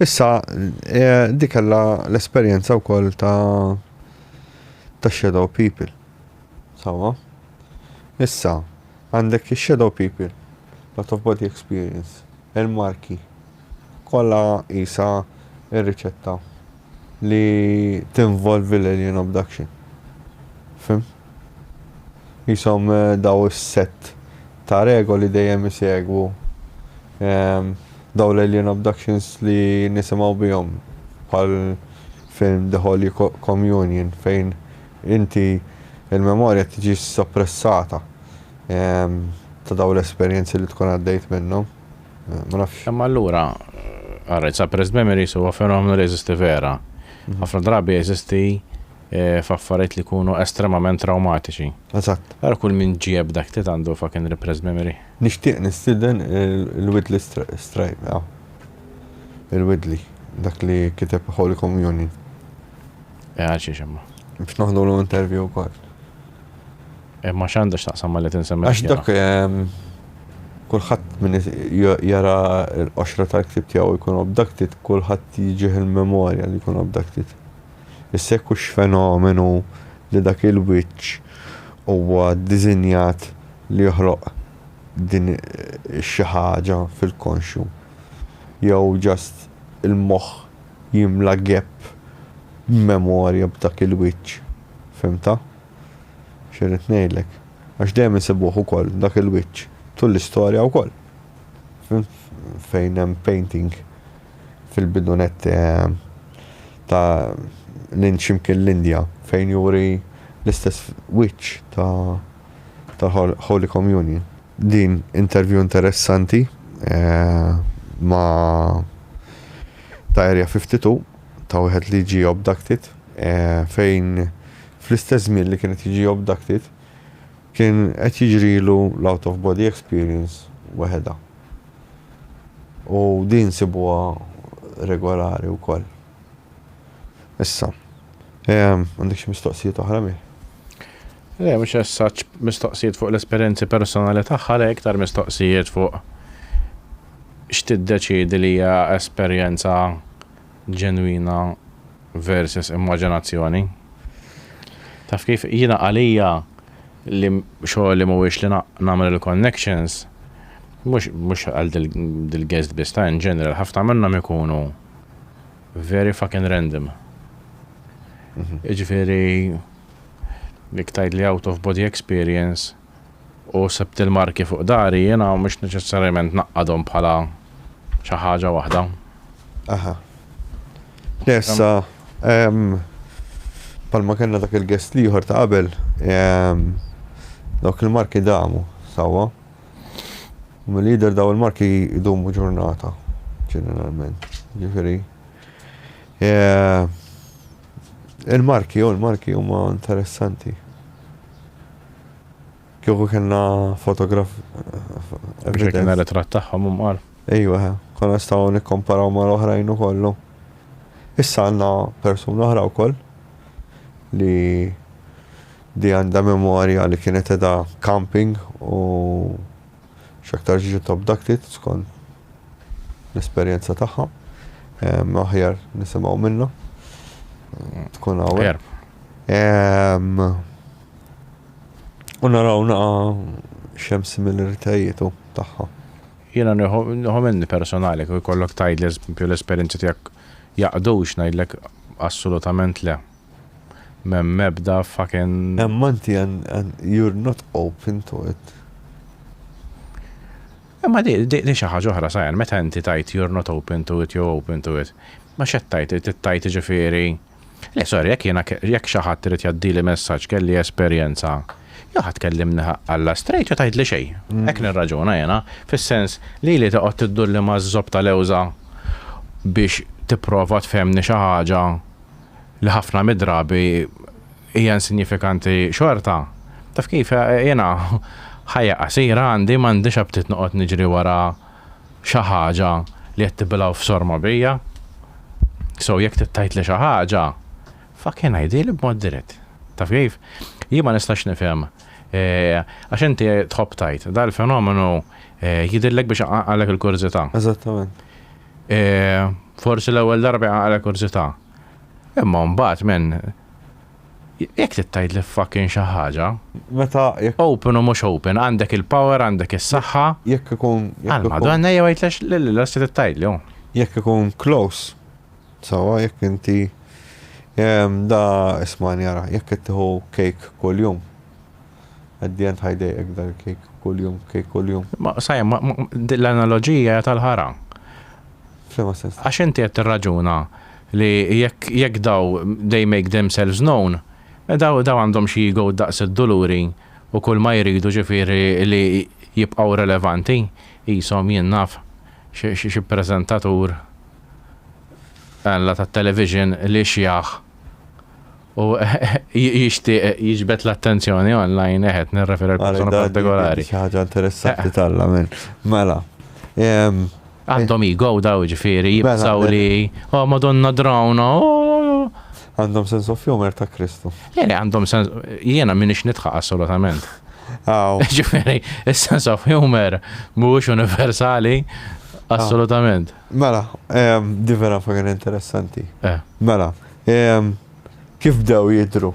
Issa, di kellha l-esperjenza wkoll ta' ta' shadow people. Sawa? Issa, għandek shadow people, lot of body experience, il-marki, kollha isa ir-riċetta. li tinvolvi l-alien abduction. Fhimt? Qishom dawn is-sett ta' regoli dejjem isegwu dawn l-alien abductions li nisimgħu bihom bħal film The Holy Communion fejn inti l-memorja tiġi soppressata ta' dawn l-esperjenzi li tkun għaddejt minnhom. Ma nafx. Imma allura, għarret, suppressed memories huwa fenomenu li jeżisti vera. Mhm. Ħafna drabi jeżisti eh, f'affarijiet li jkunu estremament traumatiċi. Eżatt. Għara kull minn ġieb dak li għandu fucking repressed memory. Nixtieq nistiden il-Widley Stripe, għaw. Il-Widley, dak li kiteb Holy Communion. Eh, għal xiex imma. Biex noħdu l-interview kol. Eh, ma x'għandha x'taqsam ma li tinsemmi. Għax dak ehm, kulħadd min jara l-qoxra tal-ktib tiegħu jkun obdaktit, kulħadd jiġih il-memorja li jkun obdaktit. Issa jekk hux fenomenu li dak il-wiċċ huwa dizinjat li joħloq din eh, xi ħaġa fil-konxju. Jew ġast il-moħħ jimla gap memorja b'dak il-wiċċ. Fimta? X'irrid ngħidlek? Għax dejjem insibuh ukoll dak il-wiċċ tul l-istorja wkoll. Fimt? Fejn hemm painting fil-bidunet ta' l-Ind x'imkien l-Indja fejn juri l-istess wiċċ ta' tal-Holy Communion. Din interview interessanti ma' Diary 52 ta' wieħed li ġie abducted, fejn fl-istess żmien li kien qed jiġi abducted, kien qed jiġrilu l-out of body experience weħedha. U din sibuha regolari wkoll. Issa, għandek xi mistoqsijiet oħra, Mih? Le, mhux as-such mistoqsijiet fuq l-esperjenzi personali tagħha, le, iktar mistoqsijiet fuq x'tiddeċiedi li hija esperjenza ġenwina versus immaġinazzjoni. Taf kif, jiena għalija li xogħli mhuwiex li nagħmel il-connections, mhux mhux għal dil-guest biss, ta' in general, ħafna minnhom ikunu very fucking random. Jiġifieri Jekk tgħidli out of body experience u sebt il-marki fuq dari, jiena mhux neċessarjament ngħaqqadhom bħala xi ħaġa waħda. Aha. Nessa, palma kellna dak il-guest liħor ta' qabel, dawk il-marki damu, sawa. Mill-lider daw il-marki jdumu ġurnata, ġeneralment. Ġifiri. Il-marki, oh il-marki huma interessanti. Kieku kellna fotograf. Biex kien ritratt tagħhom umqar. Ejwa, konna staw nikkomparaw ma' l-oħrajn u kollu. Issa għandna persuna oħra wkoll li di għandha memorja li kienet edha camping u X'aktarx jiġu top ducted skont l-esperjenza tagħha. Aħjar nisimgħu minnha. Tkun hawn. U naraw naqa xem similaritajiet tagħha. Jiena nieħu minni personali kif ikollok tgħidli l-esperjenza tiegħek jaqdux ngħidlek assolutament le. M'hemm ebda fucking. Imma inti and you're not open to it. Imma di di xi ħaġa oħra Sayan, meta inti tgħid you're not open to it jew open to it, ma x'qed tgħid, trid tgħid jiġifieri, le sorry jekk jiena jekk xi ħadd irid jgħaddili messaġġ kelli esperjenza, jew ħa tkellimni ħaqq Alla straight jew tgħidli xejn. Hekk nirraġuna jiena, fis-sens li li toqgħod tiddulli maż-żopp ta' lewża biex tipprova tfehmni xi ħaġa, li ħafna mid-drabi hija insinjifikanti xorta, taf kif, jiena ħajja qasira għandi, m'għandix aptit noqgħod niġri wara xi ħaġa li qed tibilgħu f'sorma bija. So jekk trid tgħidli xi ħaġa, fucking għidhieli b'mod dirett. Taf kif? Jien ma nistax nifhem għax inti tħobb tgħid, dal-fenomenu jidhirlek biex iqanqalek il-kurżità. Eżattament. E, forsi l-ewwel darba jaqra kurzità. Imma mbagħad men jekk tittajt li fucking xi ħaġa. Meta jekk. Open u mhux open, għandek il-power, għandek is-saħħa. Jekk ikun. Għal madonna jew għidlex l-lilla se tittajt li Jekk ikun close. Sawa jekk inti da isma' jara, jekk ittiħu kejk kuljum. At the end ħajdejqek dan il-kejk kuljum, kejk kuljum. Ma sajem, ma din l-analoġija hija tal-ħara. F'liema sens? Għax inti qed tirraġuna li jekk jekk daw they make themselves known, daw daw għandhom xi ego daqs id-duluri u kulma jridu ġifieri li jibqgħu relevanti, qishom jien naf xi preżentatur, alla tat-television li xjaħ. u jixtieq jiġbed l-attenzjoni online eħed nirreferi għal persuna partikolari. Xi ħaġa interessanti talla minn. Mela. Għandhom ego daw ġifieri jibsaw mela, li oh madonna drawna. Oh. Għandhom sens of humor ta' Kristu. Jeni eh, għandhom sens jiena minix nitħa assolutament. Ġifieri, is-sens of humor mhuwiex universali assolutament. Mela, di vera fagan interessanti. Eh. Mela, Ehm, kif bdew jidru?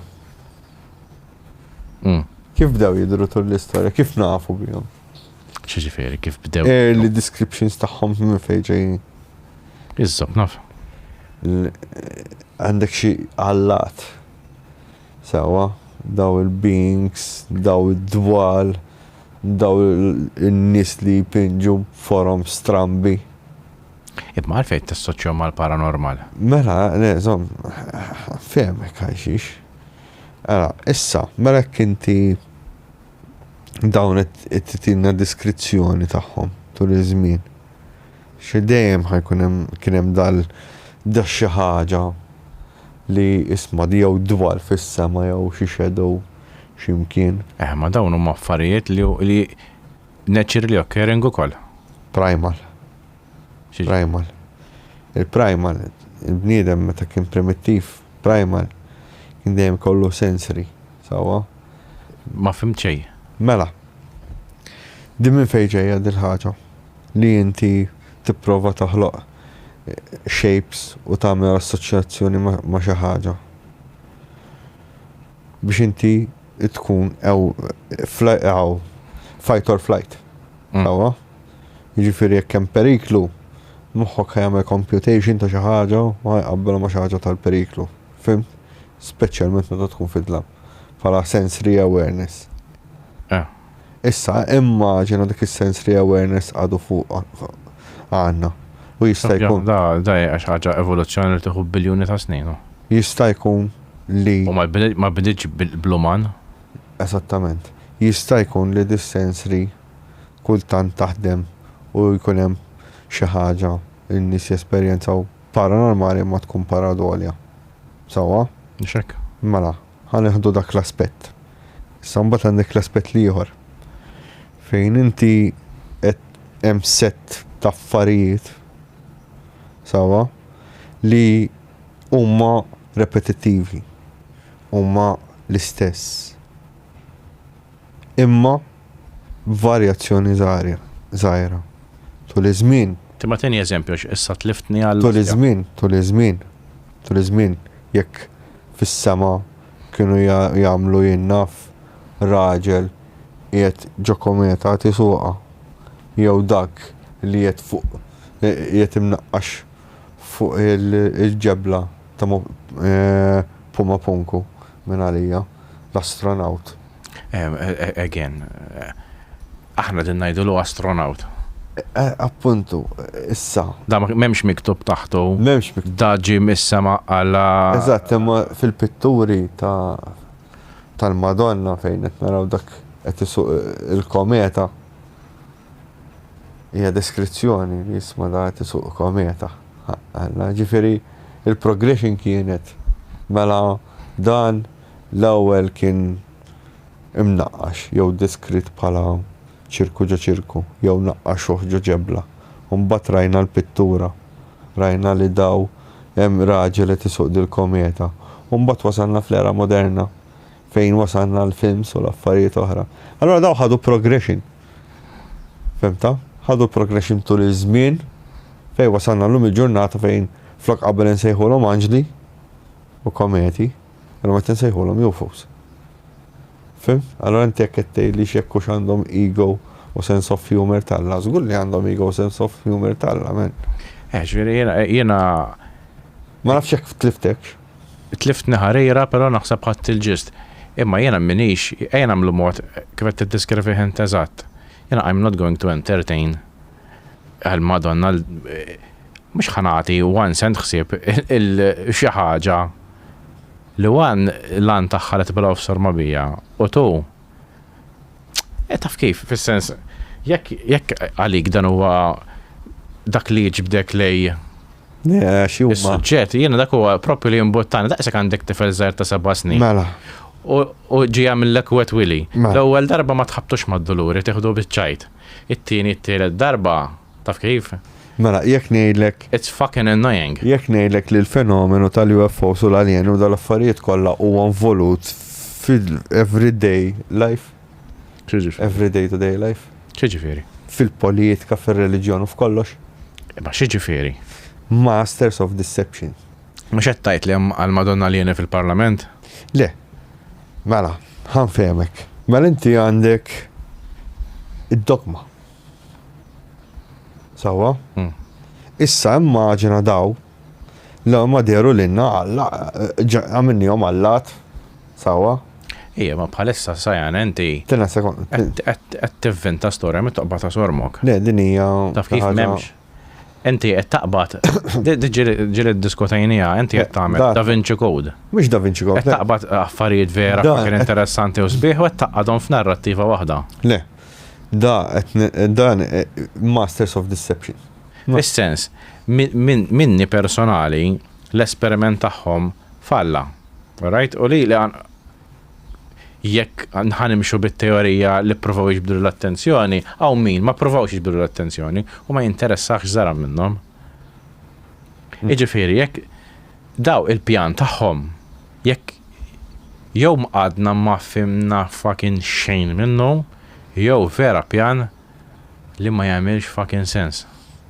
Mm. Kif bdew jidru tul l-istorja? Kif nafu bihom? ċiġifiri, kif bdew. Early descriptions taħħom minn fejġej. Iżżob, naf. Għandek xi għallat. Sawa, daw il-beings, daw id-dwal, daw il-nis li jpinġu forum strambi. Imma għalfejn tassoċjahom mal-paranormal? Mela, le, żomm, fehmek għal xiex. Ara, issa, mela jekk inti dawn qed titilna deskrizzjoni tagħhom tul iż-żmien. Xi dejjem ħajkun hemm kien hemm dal dax xi ħaġa li isma' jew dwal fis-sema jew xi shadow x'imkien. Eh, ma dawn huma affarijiet li Naturally occurring ukoll. Primal. Primal. Il-primal, il-bniedem meta kien primittiv, primal, kien dejjem kollu sensory, sawa? Ma fim ċej. Mela. Din minn fejn ġejja din ħaġa li inti tipprova taħloq eh, shapes u tagħmel assoċjazzjoni ma' xi ħaġa. biex inti tkun ew fight or flight. Sawa? Mm. Jiġifieri jekk hemm periklu, moħħok jagħmel computation ta' xi ħaġa u ħajqabbel ma' xi ħaġa tal-periklu. Fimt? Speċjalment meta tkun fid-dlam. Bħala sensory awareness. Eh. Issa, immaġina dik is-sens li awareness għadu fuq għandna. U jista' jkun. Da, da hija xi ħaġa evoluzzjoni li tieħu biljuni ta' snin. Jista' jkun li. U ma bdietx bl-uman. Esattament. Jista' jkun li dis-sens li kultant taħdem u jkun hemm xi ħaġa li n-nies jesperjenzaw paranormali imma tkun paradolja. Sewwa? Mhux hekk? Mela. Ħa neħdu dak l-aspett. Issa mbagħad għandek l-aspett l-ieħor fejn inti qed hemm sett ta' affarijiet sewwa li huma repetittivi, huma l-istess. Imma Varjazzjoni żgħira. Tul iż-żmien. Timma tieni eżempju għax issa tliftni għal. Tul iż-żmien, tul iż-żmien, tul iż-żmien, jekk fis-sema kienu jagħmlu jien naf raġel qiegħed ġo kometa qed isuqha jew dak li qiegħed fuq qiegħed imnaqqax fuq il-ġebla ta' Pumapunku. minn għalija, l-astronawt. Again. Aħna din ngħidulu astronawt. Appuntu, issa. Da m'hemmx miktub taħtu. M'hemmx miktub. Da ġie mis-sema għal. Eżatt, imma fil-pitturi tal-Madonna fejn qed naraw dak qed isuq il-kometa. Hija deskrizzjoni li jisma' dak isuq kometa, ħaqq Alla. Ġifieri l-progression kienet mela dan l-ewwel kien imnaqqax jew deskritt bħala ċirku ġo ċirku jew naqqaxuh ġo ġebla u mbagħad rajna l-pittura, rajna li daw hemm raġel qed isuq dil-kometa u mbagħad wasalna fl-era moderna fejn wasalna għall-films u l-affarijiet oħra. Allura daw ħadu progression. Fimta? Ħadu progression tul iż-żmien fejn wasalna llum il-ġurnata fejn flok qabel insejħulhom anġli u kometi, illum qed insejħulhom UFOs. Fim? Allora inti jekk qed tgħidli x'jekk hux għandhom ego u sense of humor talla, żgur li għandhom ego u sense of humor talla, men. Eh, ġifieri jiena Ma nafx jekk tliftekx. Tliftni ħarira pero naħseb ħadt il-ġist. Imma jiena minix, ejja nagħmlu mod kif qed tiddeskrivih int eżatt. Jiena I'm not going to entertain għal Madonna l mhux ħa nagħti one cent ħsieb il xi ħaġa li one l-għan tagħha li tibgħalha off sorma bija u two E taf kif, fis-sens, jekk għalik dan huwa dak li jġbdek lej Is-suġġett, jiena dak huwa propju li jimbuttani, daqshekk għandek tifel żgħar ta' seba' snin. Mela. U ġi għamillek wet wili. Mela. L-ewwel darba ma tħabtux mad-duluri, tieħdu biċ-ċajt. It-tieni, t-tielet darba Taf kif? Mela, jekk ngħidlek. It's fucking annoying. Jekk ngħidlek li l-fenomenu tal-UFOs u l-aljeni u dal-affarijiet kollha huwa involut fil-everyday life. X'jiġifieri? Everyday to day life. X'jiġifieri? Fil-politika, fir-reliġjon u f'kollox. Ma x'jiġifieri? Masters of deception. Mhux qed tgħid li hemm għal Madonna aljeni fil-Parlament? Le. Mela, ħanfehmek. Mela inti għandek id-dogma. Sawa? Hmm. Issa immaġina daw la ma deru l-inna għalla, għamilni għom għallat, sawa? Ija, ma bħalissa sajan, enti. Tina sekund. Għed t-vvinta storja mit toqba ta' sormok. Le, dinija. Taf kif memx. Inti qed taqbad, ġiri diskutajnija, inti qed tagħmel Da Vinci Code. Mhux Da Vinci Code. Qed taqbad affarijiet vera kien interessanti u sbieħ u qed taqadhom f'narrattiva waħda. Le. Da dan eh, Masters of Deception. Fis-sens, minni personali l-esperiment tagħhom falla. Right? U li li jekk ħa nimxu bit-teorija li ppruvaw jiġbdulu l-attenzjoni, hawn min ma ppruvawx jiġbdulu l-attenzjoni u ma jinteressah x'żara minnhom. Jiġifieri jekk daw il-pjan tagħhom jekk jew għadna ma fhimna fucking xejn minnu jew vera pjan li ma jagħmilx fucking sens.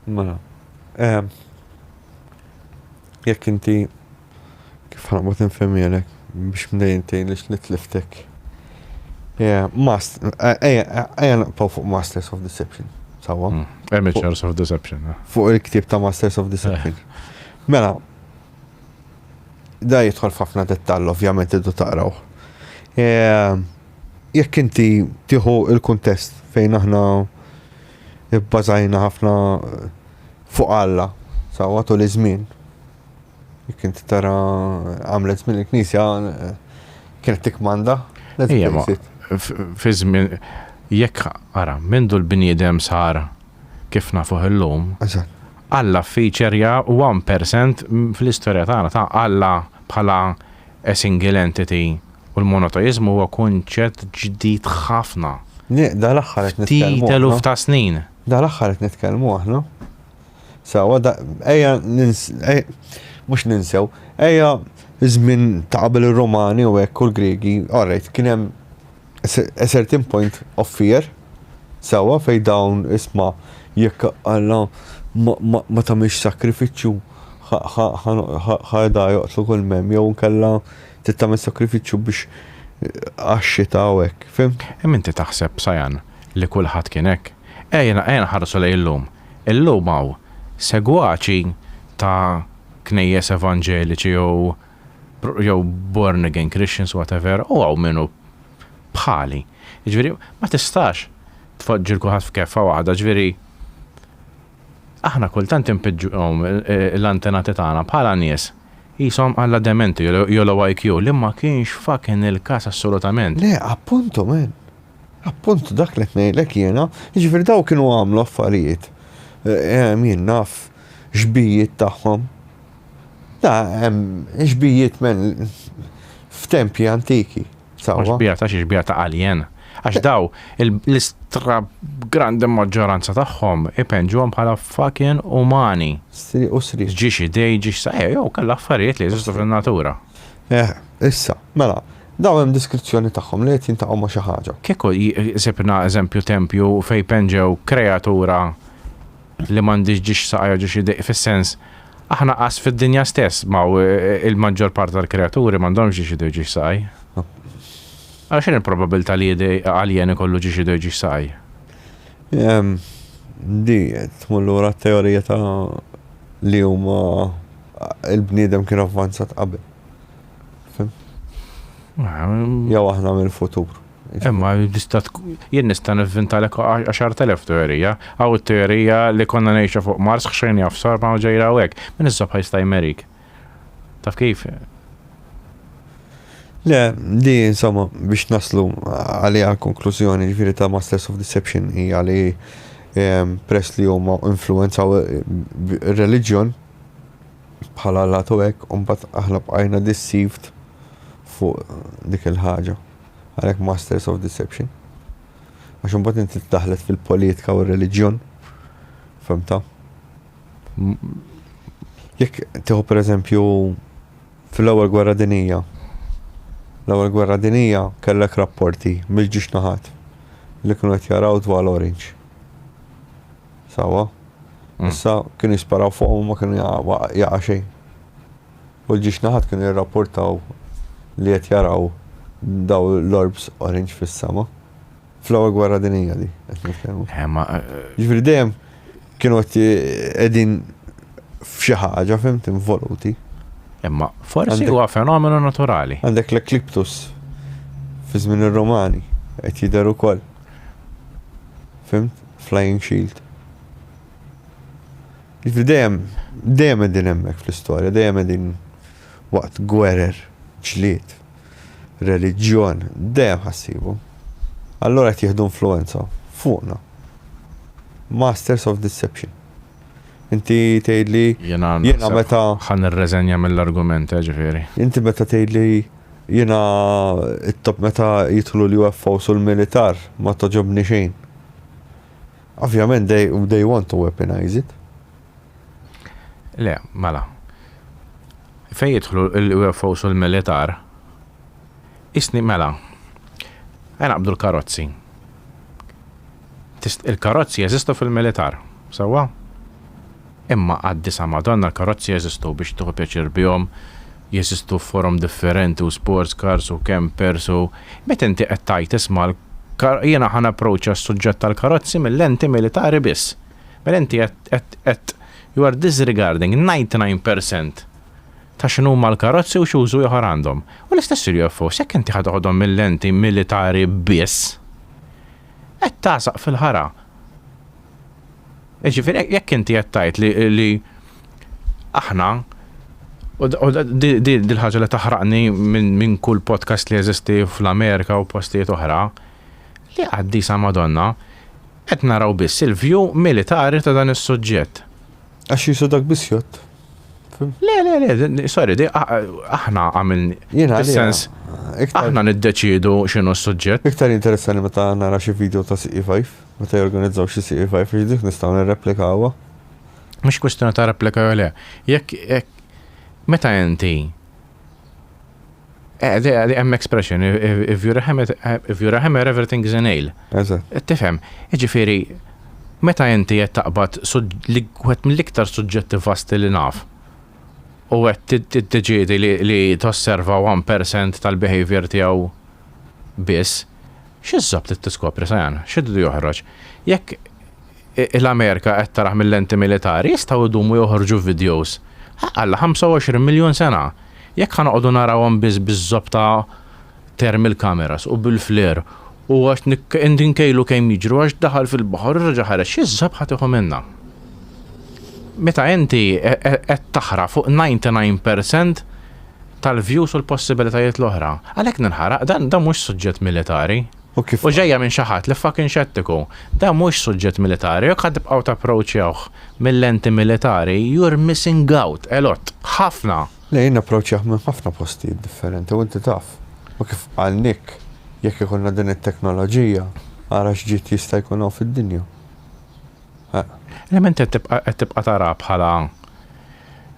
Mela, jekk inti Kif ħanqbad infhemhielek biex mnejn tgħinlix li tliftek. Yeah, mast, ejja naqpaw fuq Masters of Deception, sawa? Hmm, Amateurs of Deception. Eh. Fuq il-ktib ta' Masters of Deception. Eh. Mela, da jidħol f'ħafna dettall, ovvjament iddu taqraw. Eh, jekk inti tieħu il-kuntest fejn aħna bbażajna ħafna fuq Alla, sawa tul iż-żmien, Jekk inti tara għamlet minn il-Knisja kienet tikmanda. Fi żmien jekk ara mindu l-bniedem sar kif nafuh illum. Alla feature u 1% fl-istorja tagħna ta' Alla bħala a single entity u l-monoteizmu huwa kunċett ġdid ħafna. Dal-aħħar qed nitkellmu. Ftit eluf ta' snin. Dal-aħħar qed nitkellmu aħna. Sawa, ejja mhux ninsew, ejja żmien ta' qabel ir-Romani u hekk u l-Griegi, alright, kien hemm a certain point of fear, sawa, fejn dawn isma' jekk Alla ma tagħmilx sakrifiċċju ħa da joqtlu kull m'hemm jew inkella trid tagħmel sakrifiċċju biex għax-xita u hekk, fimt? Imma inti taħseb, Sajan, li kulħadd kien hekk? Ejja nħarsu lejn illum. Illum hawn segwaċi ta' knejjes evanġeliċi jew jew born again Christians whatever u hawn min hu bħali. Jiġifieri ma tistax tpoġġi 'l kulħadd f'keffa waħda, jiġifieri aħna kultant inpiġġuhom l-antenati tagħna bħala nies qishom alla dementi jew low IQ li ma kienx fucking il-każ assolutament. Le, appuntu man! Appunt dak li qed ngħidlek jiena, jiġifieri dawn kienu għamlu affarijiet, jien naf xbijiet tagħhom. Da hemm xbijiet men f'tempji antiki. Xbija ta' xi xbija ta' alien. Għax daw l-istra grandi maġġoranza tagħhom ipenġuhom bħala fucking umani. Sri u sri. Ġiex idej, ġiex saqajja, jew kellha affarijiet li jeżistu fin-natura. Eh, issa, mela, Daw hemm diskrizzjoni tagħhom li qed jintaqgħu ma' xi ħaġa. Kieku sibna eżempju tempju fejn penġew kreatura li m'għandix ġiex saqaj ġiex idiq fis-sens aħna qas fid-dinja stess ma' e, e, il-maġġor part tal-kreaturi m'għandhomx ġiex idiq ġiex saqaj. Għax x'in il-probabilità li għaljen ikollu ġiex idiq ġiex saqaj? Di, tmur lura t-teorija ta' li huma Il-bniedem kien avvanzat qabel. Fim? Jew aħna mill-futur. Imma jien nista' nivvintalek 10,000 teorija. Aw it-teorija li konna ngħixu fuq Mars ħxejn jafsar ma' ġejra u hekk. Min is-subħa jista' jmerik. Taf kif? Le, di insomma biex naslu għaliha konklużjoni ġifieri ta' Masters of Deception hija li ehm, press li huma influenzaw eh, reliġjon bħala lat u hekk u mbagħad aħna bqajna deceived fuq dik il-ħaġa. Għalhekk masters of deception. Għax imbagħad inti daħlet fil-politika u r-reliġjon. Femta? Jekk tieħu pereżempju fil-ewwel gwerra dinija. L-ewwel gwerra dinija kellek rapporti mill-ġiex naħat li kienu qed jaraw dwar l-orange. Sewwa. Issa kienu jisparaw fuqhom u ma kienu jaqa' xejn. U l-ġiex naħat kienu jirrapportaw li qed jaraw daw l-orbs orange fis-sema. Fl-ewwel gwerra dinija di qed nitkellmu. Eh, ma. Eh, Ġifieri dejjem kienu qed qegħdin f'xi ħaġa fimt involuti. Imma forsi huwa fenomenu naturali. Għandek l-ekliptus fi żmien ir-Romani qed jidher ukoll. Fimt? Flying shield. Ġifri dejjem, dejjem qegħdin hemmhekk fl-istorja, dejjem qegħdin waqt gwerer, ġlied, reliġjon, dejjem ħassibu. Allora qed jieħdu influenza fuqna. Masters of Deception. Inti tgħidli jiena meta ħan irreżenja mill-argument, eh, ġifieri. Inti meta tgħidli Jiena it-top meta jidħlu l-UFOs u l-militar ma togħġobni xejn. Ovvjament they, they want to weaponize it. Le, mela. Fejn jidħlu l-UFOs u l-militar, isni mela. Għajna qabdu l-karozzi. Il-karozzi jeżistu fil-militar, sawa? Imma għaddi sa madanna l-karozzi jeżistu biex tieħu pjaċir bihom, jeżistu f'forom differenti u sports cars u campers u meta inti qed tgħid isma' l kar jiena ħa napproċċa s-suġġett tal-karozzi mil-lenti militari biss. Mela inti qed qed qed you are disregarding 99 percent ta' x'inhuma l-karozzi u x'użu ieħor għandhom. U l-istess il-UFOs jekk inti ħa toħodhom mil-lenti militari biss qed tagħsaq fil-ħara. Ġifieri jekk inti qed tgħid li, li aħna u dil ħaġa li taħraqni minn min kull podcast li jeżisti fl-Amerika u postijiet oħra li qaddisa Madonna qed naraw biss il-vju militari ta' dan is-suġġett. Għax jisu dak biss jott. Le, le, le, sorry, di aħna għamil. Jena, sens. Aħna niddeċidu xinu s-sujġet. Iktar interessani meta nara xi video ta' CE5. Meta jorganizzaw xi sieq f'High Freeze dik nistgħu nirreplikawha? Mhux kwistjoni ta' replika jew le. Jekk meta inti hemm expression, if you're a hammer, if you're a hammer everything is a nail. Tifhem, jiġifieri meta inti qed taqbad wieħed mill-iktar suġġetti vasti li naf u qed tiddeċiedi li tosserva 1% tal-behavior tiegħu biss, X'isab trid tiskopri, Sajan? X'iridu joħroġ? Jekk l-Amerika qed tarah mil-lenti militari, jistgħu jdumu joħorġu vidjows, ħaqalla, 25 miljun sena! Jekk ħa noqogħdu narawhom biss biż-żopp ta' thermal cameras u bil-flare u għax inkejlu kemm jiġru għax daħal fil-baħar u reġa' ħareġ, x'isab ħa tieħu minnha? Meta inti qed taħraq fuq 99 percent tal-views u l-possibilitajiet l-oħra. Għalhekk ninħaraq, dan dan mhux suġġett militari. U kif. U ġejja minn xi ħadd li fucking xettiku. Dan mhux suġġett militari, jekk ħa tibqgħu tapproachjawh mil-lenti militari, you're missing out a lot. Ħafna. Le jien napproachjah minn ħafna postijiet differenti u inti taf. U kif qal Nick, jekk ikollna din it-teknoloġija, ara x'ġid jista' jkun hawn fid-dinja. L-element qed tibqa' qed tibqa' tara bħala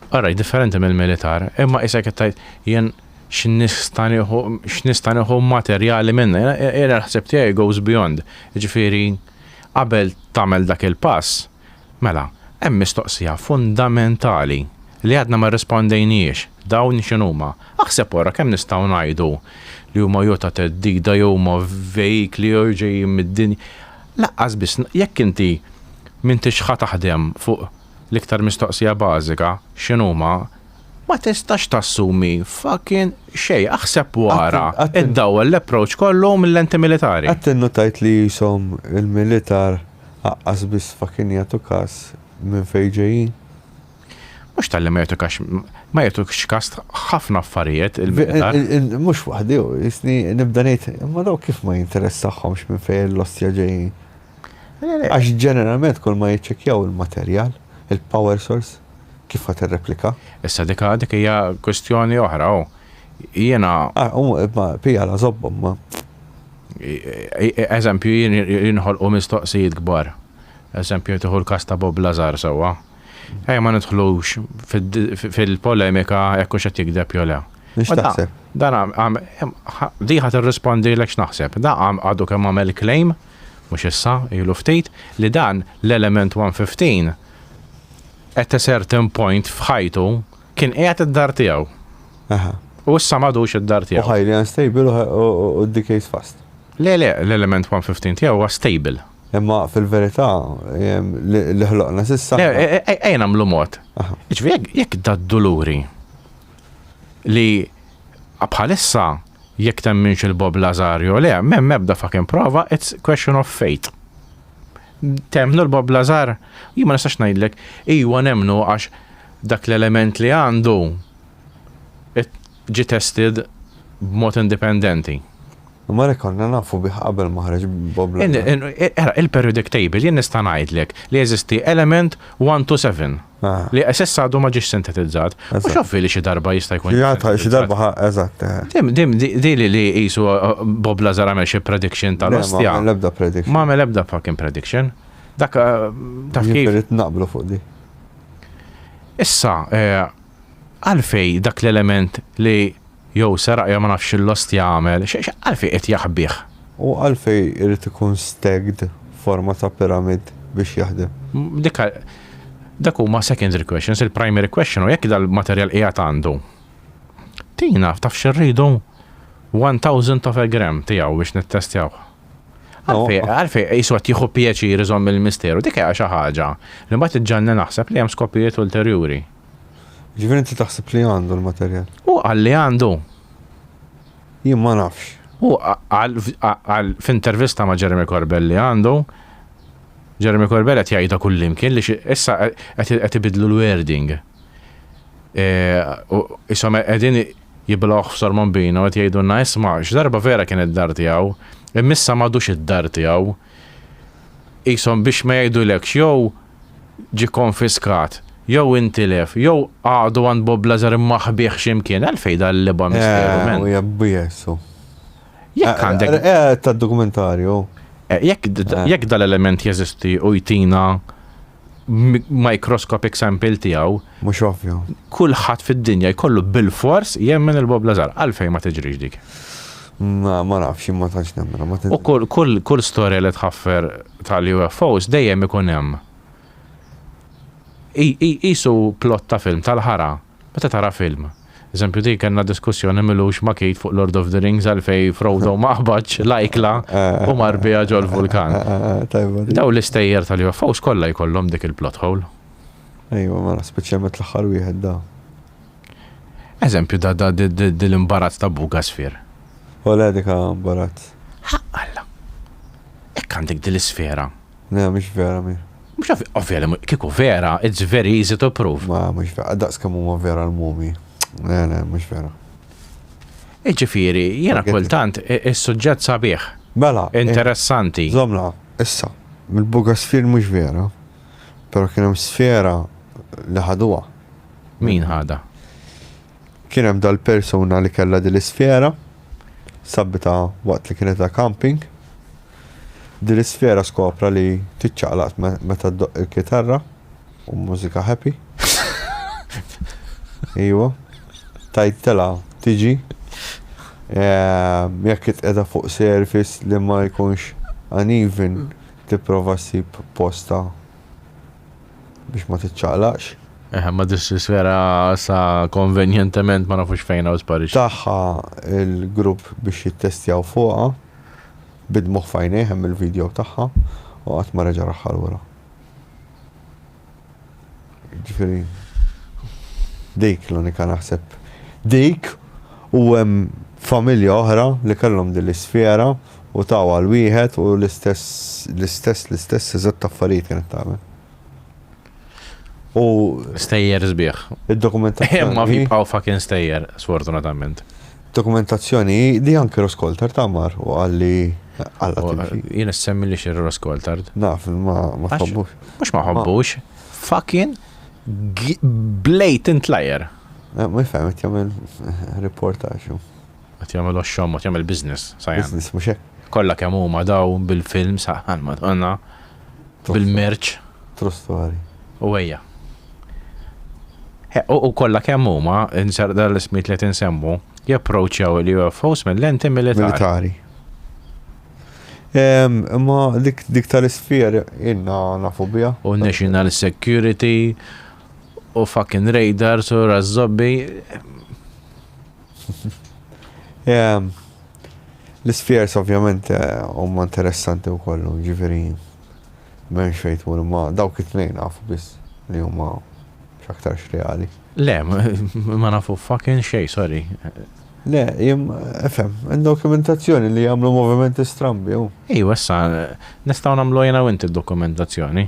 Alright, differenti mill-militar, imma isek qed tgħid jien x'nista' nieħu x'nista' nieħu materjali minna. Jiena l-ħsieb tiegħi goes beyond. Jiġifieri qabel tagħmel dak il-pass, mela, hemm mistoqsija fundamentali li għadna ma rrispondejnhiex, dawn x'inhuma? Aħseb wara kemm nistgħu ngħidu li huma jew ta' theddida jew huma vehikli jew ġejjin mid-dinja. Lanqas biss jekk inti m'intix ħa taħdem fuq l-iktar mistoqsija bażika, x'inhuma, ma tistax tassumi fucking xejn. Aħseb u ara, iddawwal l-approach kollu mil-lenti militari. Qatt innutajt li qishom il-militar aqqas biss fucking jagħtu kas minn fejn ġejjin? Mhux talli ma jagħtuk għax ma jagħtukx kas ħafna affarijiet il-militar. Mhux waħdi u jisni nibda ngħid, imma dawk kif ma jinteressahomx minn fejn l-ostja ġejjin? Għax ġeneralment kull ma jiċċekkjaw il-materjal, il-power source, kif ħadd irreplika. Issa dik dik hija kwistjoni oħra u jiena. Ma pija la żobbhom ma. Eżempju jinħolqu mistoqsijiet kbar. Eżempju tieħu l-kas ta' Bob Lazar sewwa. Ejja ma nidħlux fil-polemika jekk hux qed jigdeb jew le. X'taħseb? Dan għam, di ħadd irrispondilek x'naħseb. Da għam għadu kemm għamel claim, mhux issa, ilu ftit, li dan l-element 115 at a certain point f'ħajtu kien qiegħed id-dar tiegħu. U issa m'għadux id-dar tiegħu. U ħajli unstable u d-decay's fast. Le, le, l-element 115 tiegħu huwa stable. Imma fil-verità, li ħloqna sissa. Ejja nagħmlu mod. Ġifieri jekk dad-duluri li bħalissa jekk temminx il-Bob Lazar jew le, m'hemm ebda fucking prova, it's question of faith. Temmnu l-Bob Lazar, jien ma nistax ngħidlek, iwa nemmnu għax dak l-element li għandu ġi tested b'mod indipendenti. Imma li konna nafu bih qabel ma ħareġ Bob Lennon. Ara, il-periodic table, jien nista' ngħidlek li jeżisti element one to seven li s'issa għadu ma ġiex sintetizzat. U x'affi li xi darba jista' jkun. Xi darba ħa, eżatt. Di li li qisu Bob Lazar għamel xi prediction tal-ostja. Ma għamel ebda prediction. Ma għamel ebda fucking prediction. Dak taf kif. Irrid naqblu fuq di. Issa, għalfej dak l-element li Jew seraq jew ma nafx x'l-ostja għamel, għalfejn qed jaħbih? U għalfejn irid ikun stacked forma ta' pyramid biex jaħdem? Dik hi, dak huma secondary questions, il-primary question hu jekk dal-materjal qiegħed għandu. Tina, taf x'irridu? One thousandth of a gram tiegħu biex nittestjawh. Għalfejn, għalfejn qisu qed jieħu pjaċir iżomm il-misteru, dik hi xi ħaġa li mbagħad iġġenni naħseb li hemm skopijiet ulterjuri. Ġifieri inti taħseb li għandu l-materjal? U qal li għandu. Jien ma nafx. U qal f'intervista ma' Jeremy Corbell li għandu, Jeremy Corbell qed jgħidha kullimkien li issa qed ibidlu l-wording. E, isom qegħdin jiblawh f'sormon bina u qed jgħidulna isma' x'darba vera kien id-dar tiegħu, immissa m'għadux id-dar tiegħu. Isom biex ma jgħidulekx jew ġie kkonfiskat, jew intilef, jew għaqdu għand Bob Lazar imma ħbieh xi mkien, għalfejn dan l-ebgħa misteru, man? Eh, jabbi jessu. Jekk eh, għandek. Eh, eh, ta' dokumentarju. Jekk dal-element jeżisti u jtina microscopic sample tiegħu. Mhux ovvju. Kulħadd fid-dinja jkollu bil-fors jemmen il-Bob Lazar. Għalfejn ma tiġrix dik. Ma ma nafx jien ma tantx nemminha ma U kull kull kull storja li tħaffer tal-UFOs dejjem ikun hemm qi qi qisu plot ta' film tal-ħara meta tara film. Eżempju dik kellna diskussjoni m'ilux ma' Keith fuq Lord of the Rings għalfejn Frodo ma qbadx l-ajkla u mar biha ġol-vulkan. Tajba dik. Dawn l-istejjer tal-UFOs kollha jkollhom dik il-plot hole. Ejwa mela speċjalment l-aħħar wieħed da. Eżempju da da dil imbarazz ta' buk għasfier. Ole dik ha imbarazz. Haqq Alla. Hekk għandek dil isfera. Le mhix vera mi. Mhux ovvja, ovvja li kieku vera, it's very easy to prove. Ma mhux vera, daqs kemm huma vera l-mumi. Le le mhux vera. Iġifieri, jiena kultant is-suġġett sabiħ. Mela. Interessanti. Zomna, issa, mill-bugasfir mhux vera, però kien hemm sfera li ħaduha. Min ħada? Kien hemm dal-persuna li kellha din l-isfera, sabbita waqt li kienet ta' camping. Din l-isfera skopra li tiċċaqlaqt meta ddoq il-kitarra u mużika happy. Iwa, tajt tela tiġi. Ehm, jekk itqeda fuq service li ma jkunx uneven, tipprova ssib posta biex ma tiċċaqlaqx. Eh, ma dissisfera sa konvenjentement ma nafux fejn u sparix. Taħħa il-grupp biex jittestjaw fuqa, bidmuħ fajnej hemm il-video taħħa u għat ma reġa raħħal wara. Ġifiri, dik l-unika naħseb. Dik u hemm familja oħra li kellhom din l-isfera U taw għal wieħed u l-istess, l-istess, l-istess eżatt affarijiet kienet tagħmel. U. Stejjer sbieħ. Id-dokumentazzjoni. Imma jibqgħu fucking stejjer, sfortunatament. Dokumentazzjoni li anke Roskoltar ta' mar u għalli għalla. Jien semmi li xir Roskoltar. Naf, ma ma ħobbux. Mhux ma ħobbux. Fucking blatant liar. Eh, ma jfhem, jagħmel reportaġġ. Qed jagħmel oxxomot, jagħmel business, sajan. Business, mhux hekk? Kollha kemm huma daw bil-film saħħan Madonna. Bil-merċ. True story. U ejja. U kollha kemm huma, inser dal-ismiet li tinsemmu, japproċċjaw il-UFOs mill-lenti militari. Militari. Imma dik tal-isfjer inna nafu bija. U national security, u fucking radars, u razzobbi. L-ispjers ovvjament huma interessanti wkoll, ġifieri m'hemmx fejn tmur imma dawk it-tnejn naf biss li huma x'aktarx reali. Le, ma nafu fucking xejn, sorry. Le, ifhem, hemm dokumentazzjoni li jagħmlu movimenti strambi, hu. Ejwa issa, nistgħu nagħmluha jiena u inti d-dokumentazzjoni.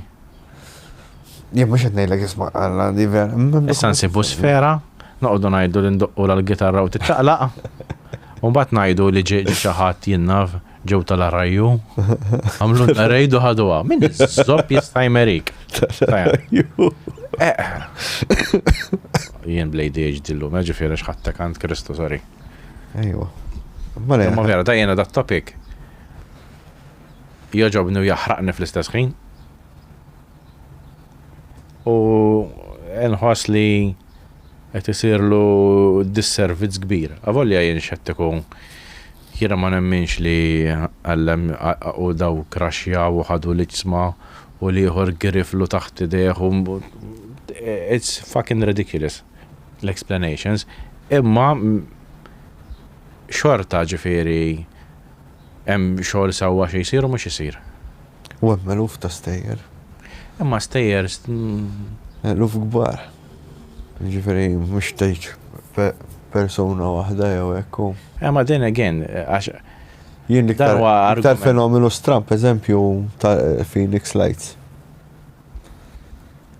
Jien mhux qed ngħidlek isma' Alla di ver. Issa nsibu sfera, noqogħdu ngħidu li ndoqqu l-gitarra u tiċċaqlaq. U mbagħad ngħidu li ġie xi ħadd jinnaf ġew tal-arrajju. Għamlu l-arrejdu ħaduha. Min zopp jista' jmerik. Eh. Jien blejdi ġdillu, meġi fiera xħatta kant Kristu, sorry. Ejwa. Ma vera, da jena da topic. jogħġobni u jaħraqni fl-istess ħin. U nħoss li qed isirlu disservizz kbir. Avolja jien xettiku jiena ma nemminx li għallem u daw kraxja u ħadu l-iġsma u liħor griflu taħt ideħ u it's fucking ridiculous l-explanations imma xorta ġifiri Hemm xogħol sewwa xi jsir u mhux isir. U hemm eluf ta' stejjer. Imma stejjer. Eluf kbar. Jiġifieri mhux tgħid persuna waħda jew hekk u. Imma then again, għax. Jien l-iktar fenomenu stramb, eżempju, ta' Phoenix Lights.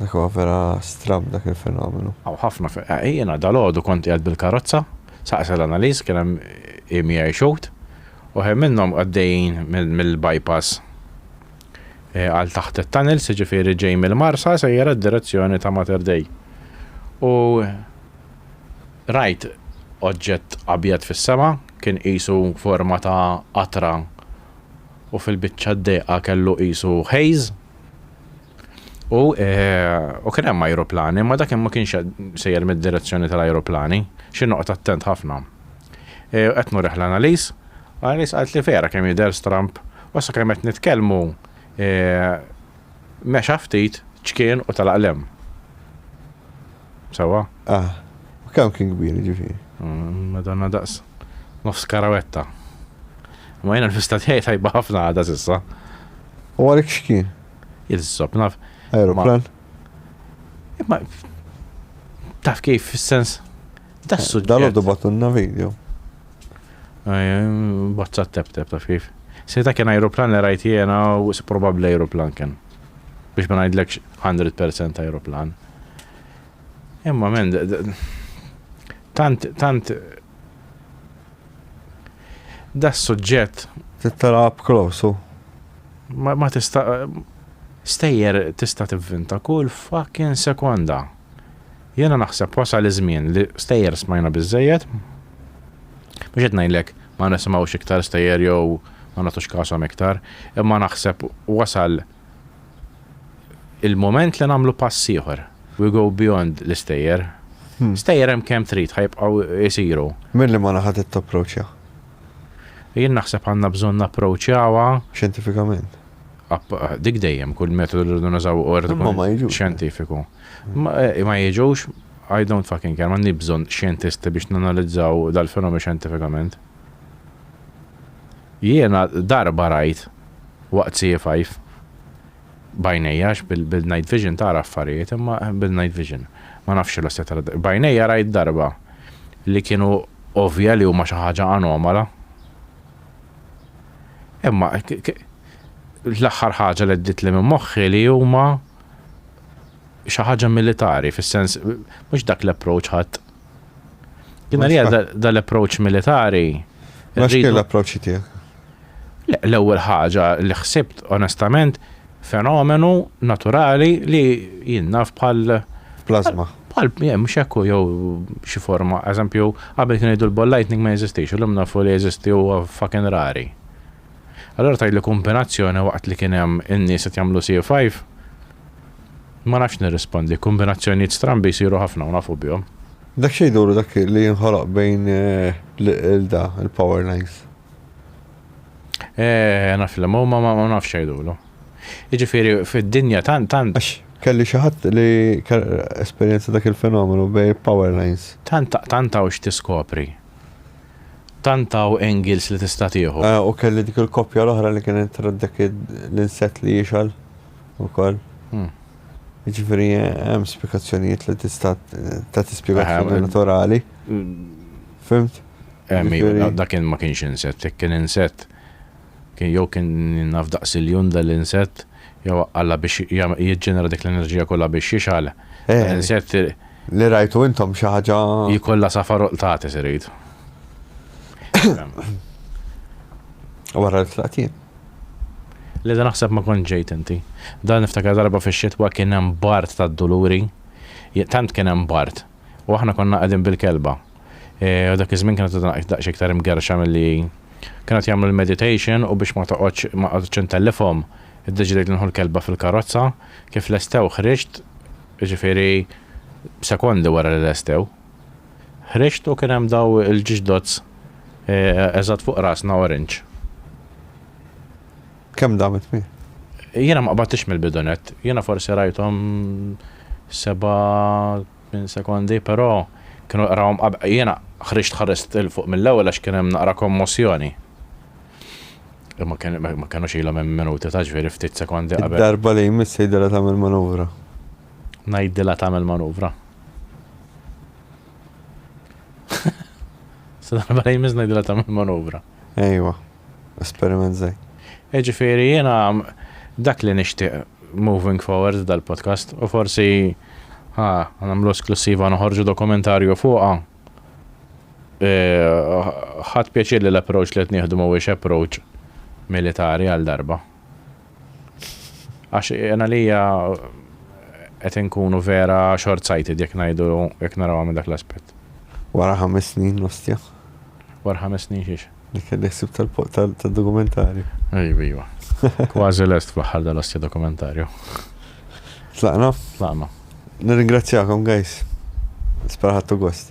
Dak huwa vera strabb dak il-fenomenu. Hawn ħafna fe. Jiena dalgħodu kont qiegħed bil-karozza, saqsa l-Analiz, kien hemm EMI Shoot, u ħin minnhom għaddejjin mill-bypass għal taħt it-tunnels, jiġifieri ġej mill-Marsa sejjer għad-direzzjoni ta' Mater Dei. U rajt oġġett abjad fis-sema, kien qisu forma ta' qatra u fil-biċċa d-dehqa kellu qisu haze, U u kien hemm ajruplani, ma dak ma kienx sejjer mid-direzzjoni tal-ajruplani, xi noqgħod attent ħafna. Qed nurih l-Annalies, l-Annalies qalt li vera kemm jidher stramb, u sakemm qed nitkellmu mexa ftit, ċkien u telaq l-hemm. Sewwa? Ah. U kemm kien kbir, jiġifieri? Madonna daqs nofs karawetta. Ma jiena l-festa tiegħi tajba ħafna għadha s'issa. U għalik x'kien? Il-sob naf. Aeroplan? Imma taf kif fis-sens ta' eh, suġġett. Dal-għoddu batunna video. Bozza tep tep taf kif. Sejta kien aeroplan li rajt jena u probabli aeroplan kien. Biex ma ngħidlekx 100% aeroplan. Imma men, tant, tant, da suġġett. Tittara up close, ma, ma tista, stejjer tista tivvinta kull fucking sekonda. Jena naħseb wasal iż-żmien li stejjer smajna biżejjed. Biex qed ngħidlek ma nisimgħux iktar stejjer jew ma nagħtux kasom iktar, imma naħseb wasal il-mument li nagħmlu pass ieħor. We go beyond l-istejjer. Hmm. Stejjer hemm kemm trid ħajbqgħu jsiru. Minn li ma naħa trid tapproċċja? Jien naħseb għandna bżonn napproċċjawha. Xjentifikament. Dik dejjem kull metodu li rridu nużaw ordu xjentifiku. Ma eh, jiġux I don't fucking care, ma nibżon xjentisti biex nanalizzaw dal-fenomenu xjentifikament. Jiena darba rajt waqt siefaif b'għajnejja għax bil-night vision tara affarijiet imma bil-night vision ma nafx xi losja tara b'għajnejja rajt darba li kienu ovvja li huma xi ħaġa anomala. Imma l-aħħar ħaġa li għeddietli minn moħħi li huma xi ħaġa militari fis-sens mhux dak l-approach ħadd Jina li dal-approach militari. Ma xkien l-approach tijak? L-ewel ħaġa li xsibt, onestament, fenomenu naturali li jinnaf bħal. Plasma. Bħal, jem, xekku jew xi forma. Eżempju, għabel kien jiddu l-ball lightning ma jeżistix, l-lum nafu li jeżisti u fucking rari. Allura tgħidli kumbinazzjoni waqt li kien hemm in-nies qed jagħmlu C5? Ma nafx nirrispondi, kumbinazzjonijiet strambi jsiru ħafna u nafu bihom. Dak xejn duru dak li jinħoloq bejn l-da, il-power lines? Eeh, naf li huma ma ma nafx jgħidulu. Jiġifieri fid-dinja tant tant. Għax kelli xi ħadd li esperjenza dak il-fenomenu bejn power lines. Tant tant hawn x'tiskopri. Tant hawn angles li tista' tieħu. U kelli dik il-koppja l-oħra li kienet trat dak l-insett li jixgħal ukoll. Jiġifieri hemm spjegazzjonijiet li tista' tagħti spjegazzjoni naturali. Fimt? Dak kien ma kienx insett, kien insett Kien jew kien naf daqs iljun dal-insett, jew Alla biex jiġġenera dik l-enerġija kollha biex jixgħel dal-insett irid. Li rajtu intom xi ħaġa. Jkollha safar u qtates irid. Wara li tlaqt jien. Le dan naħseb ma kontx ġejt inti. Dan niftakar darba fix-xitwa kien hemm bard tad-duluri, tant kien hemm bard, u aħna konna qegħdin bil-kelba. U dak iż-żmien kienet għadha naqgħid daqsxejn iktar imgerrxa milli kien qed jagħmlu l-meditation u biex ma toqgħodx ma qgħadtx intellifhom, iddeċidejt li nieħu l-kelba fil-karozza. Kif lestew ħriġt, jiġifieri sekondi wara li lestew. Ħriġt u kien hemm daw il-ġiġdots eżatt fuq rasna orange. Kemm damet mi? Jiena ma qbadtix mill-bidunet, jiena forsi rajthom seba' Minn sekondi, però, kienu qrawhom qabel. Jiena ħriġt ħarist 'il fuq mill-ewwel għax kien hemm naqra kommossjoni. Imma kien ma kinux ilhom hemm minuti ta' ġifieri ftit sekondi qabel. Id-darba li jmiss tgħidilha tagħmel manuvra. Ngħidilha tagħmel manuvra. Sa darba li jmiss ngħidilha tagħmel manuvra. Ejwa. esperiment zej. Iġifiri jena dak li nixtieq moving forward dal-podcast u forsi ha nagħmlu esklussiva noħorġu dokumentarju fuqha. Ħadd pjaċir li l-approach li qed nieħdu mhuwiex approach militari għal darba. Għax jien għalija qed inkunu vera short-sighted jekk ngħidu jekk narawha minn dak l-aspett. Wara ħames snin l-ostja. Wara ħames snin xiex? Li kelli ħsieb tal-dokumentarju. Iva, iva. Kważi lest fl-aħħar dal-ostja dokumentarju. Tlaqna? Tlaqna. Nirringrazzjakom, guys. Speraħattu gost.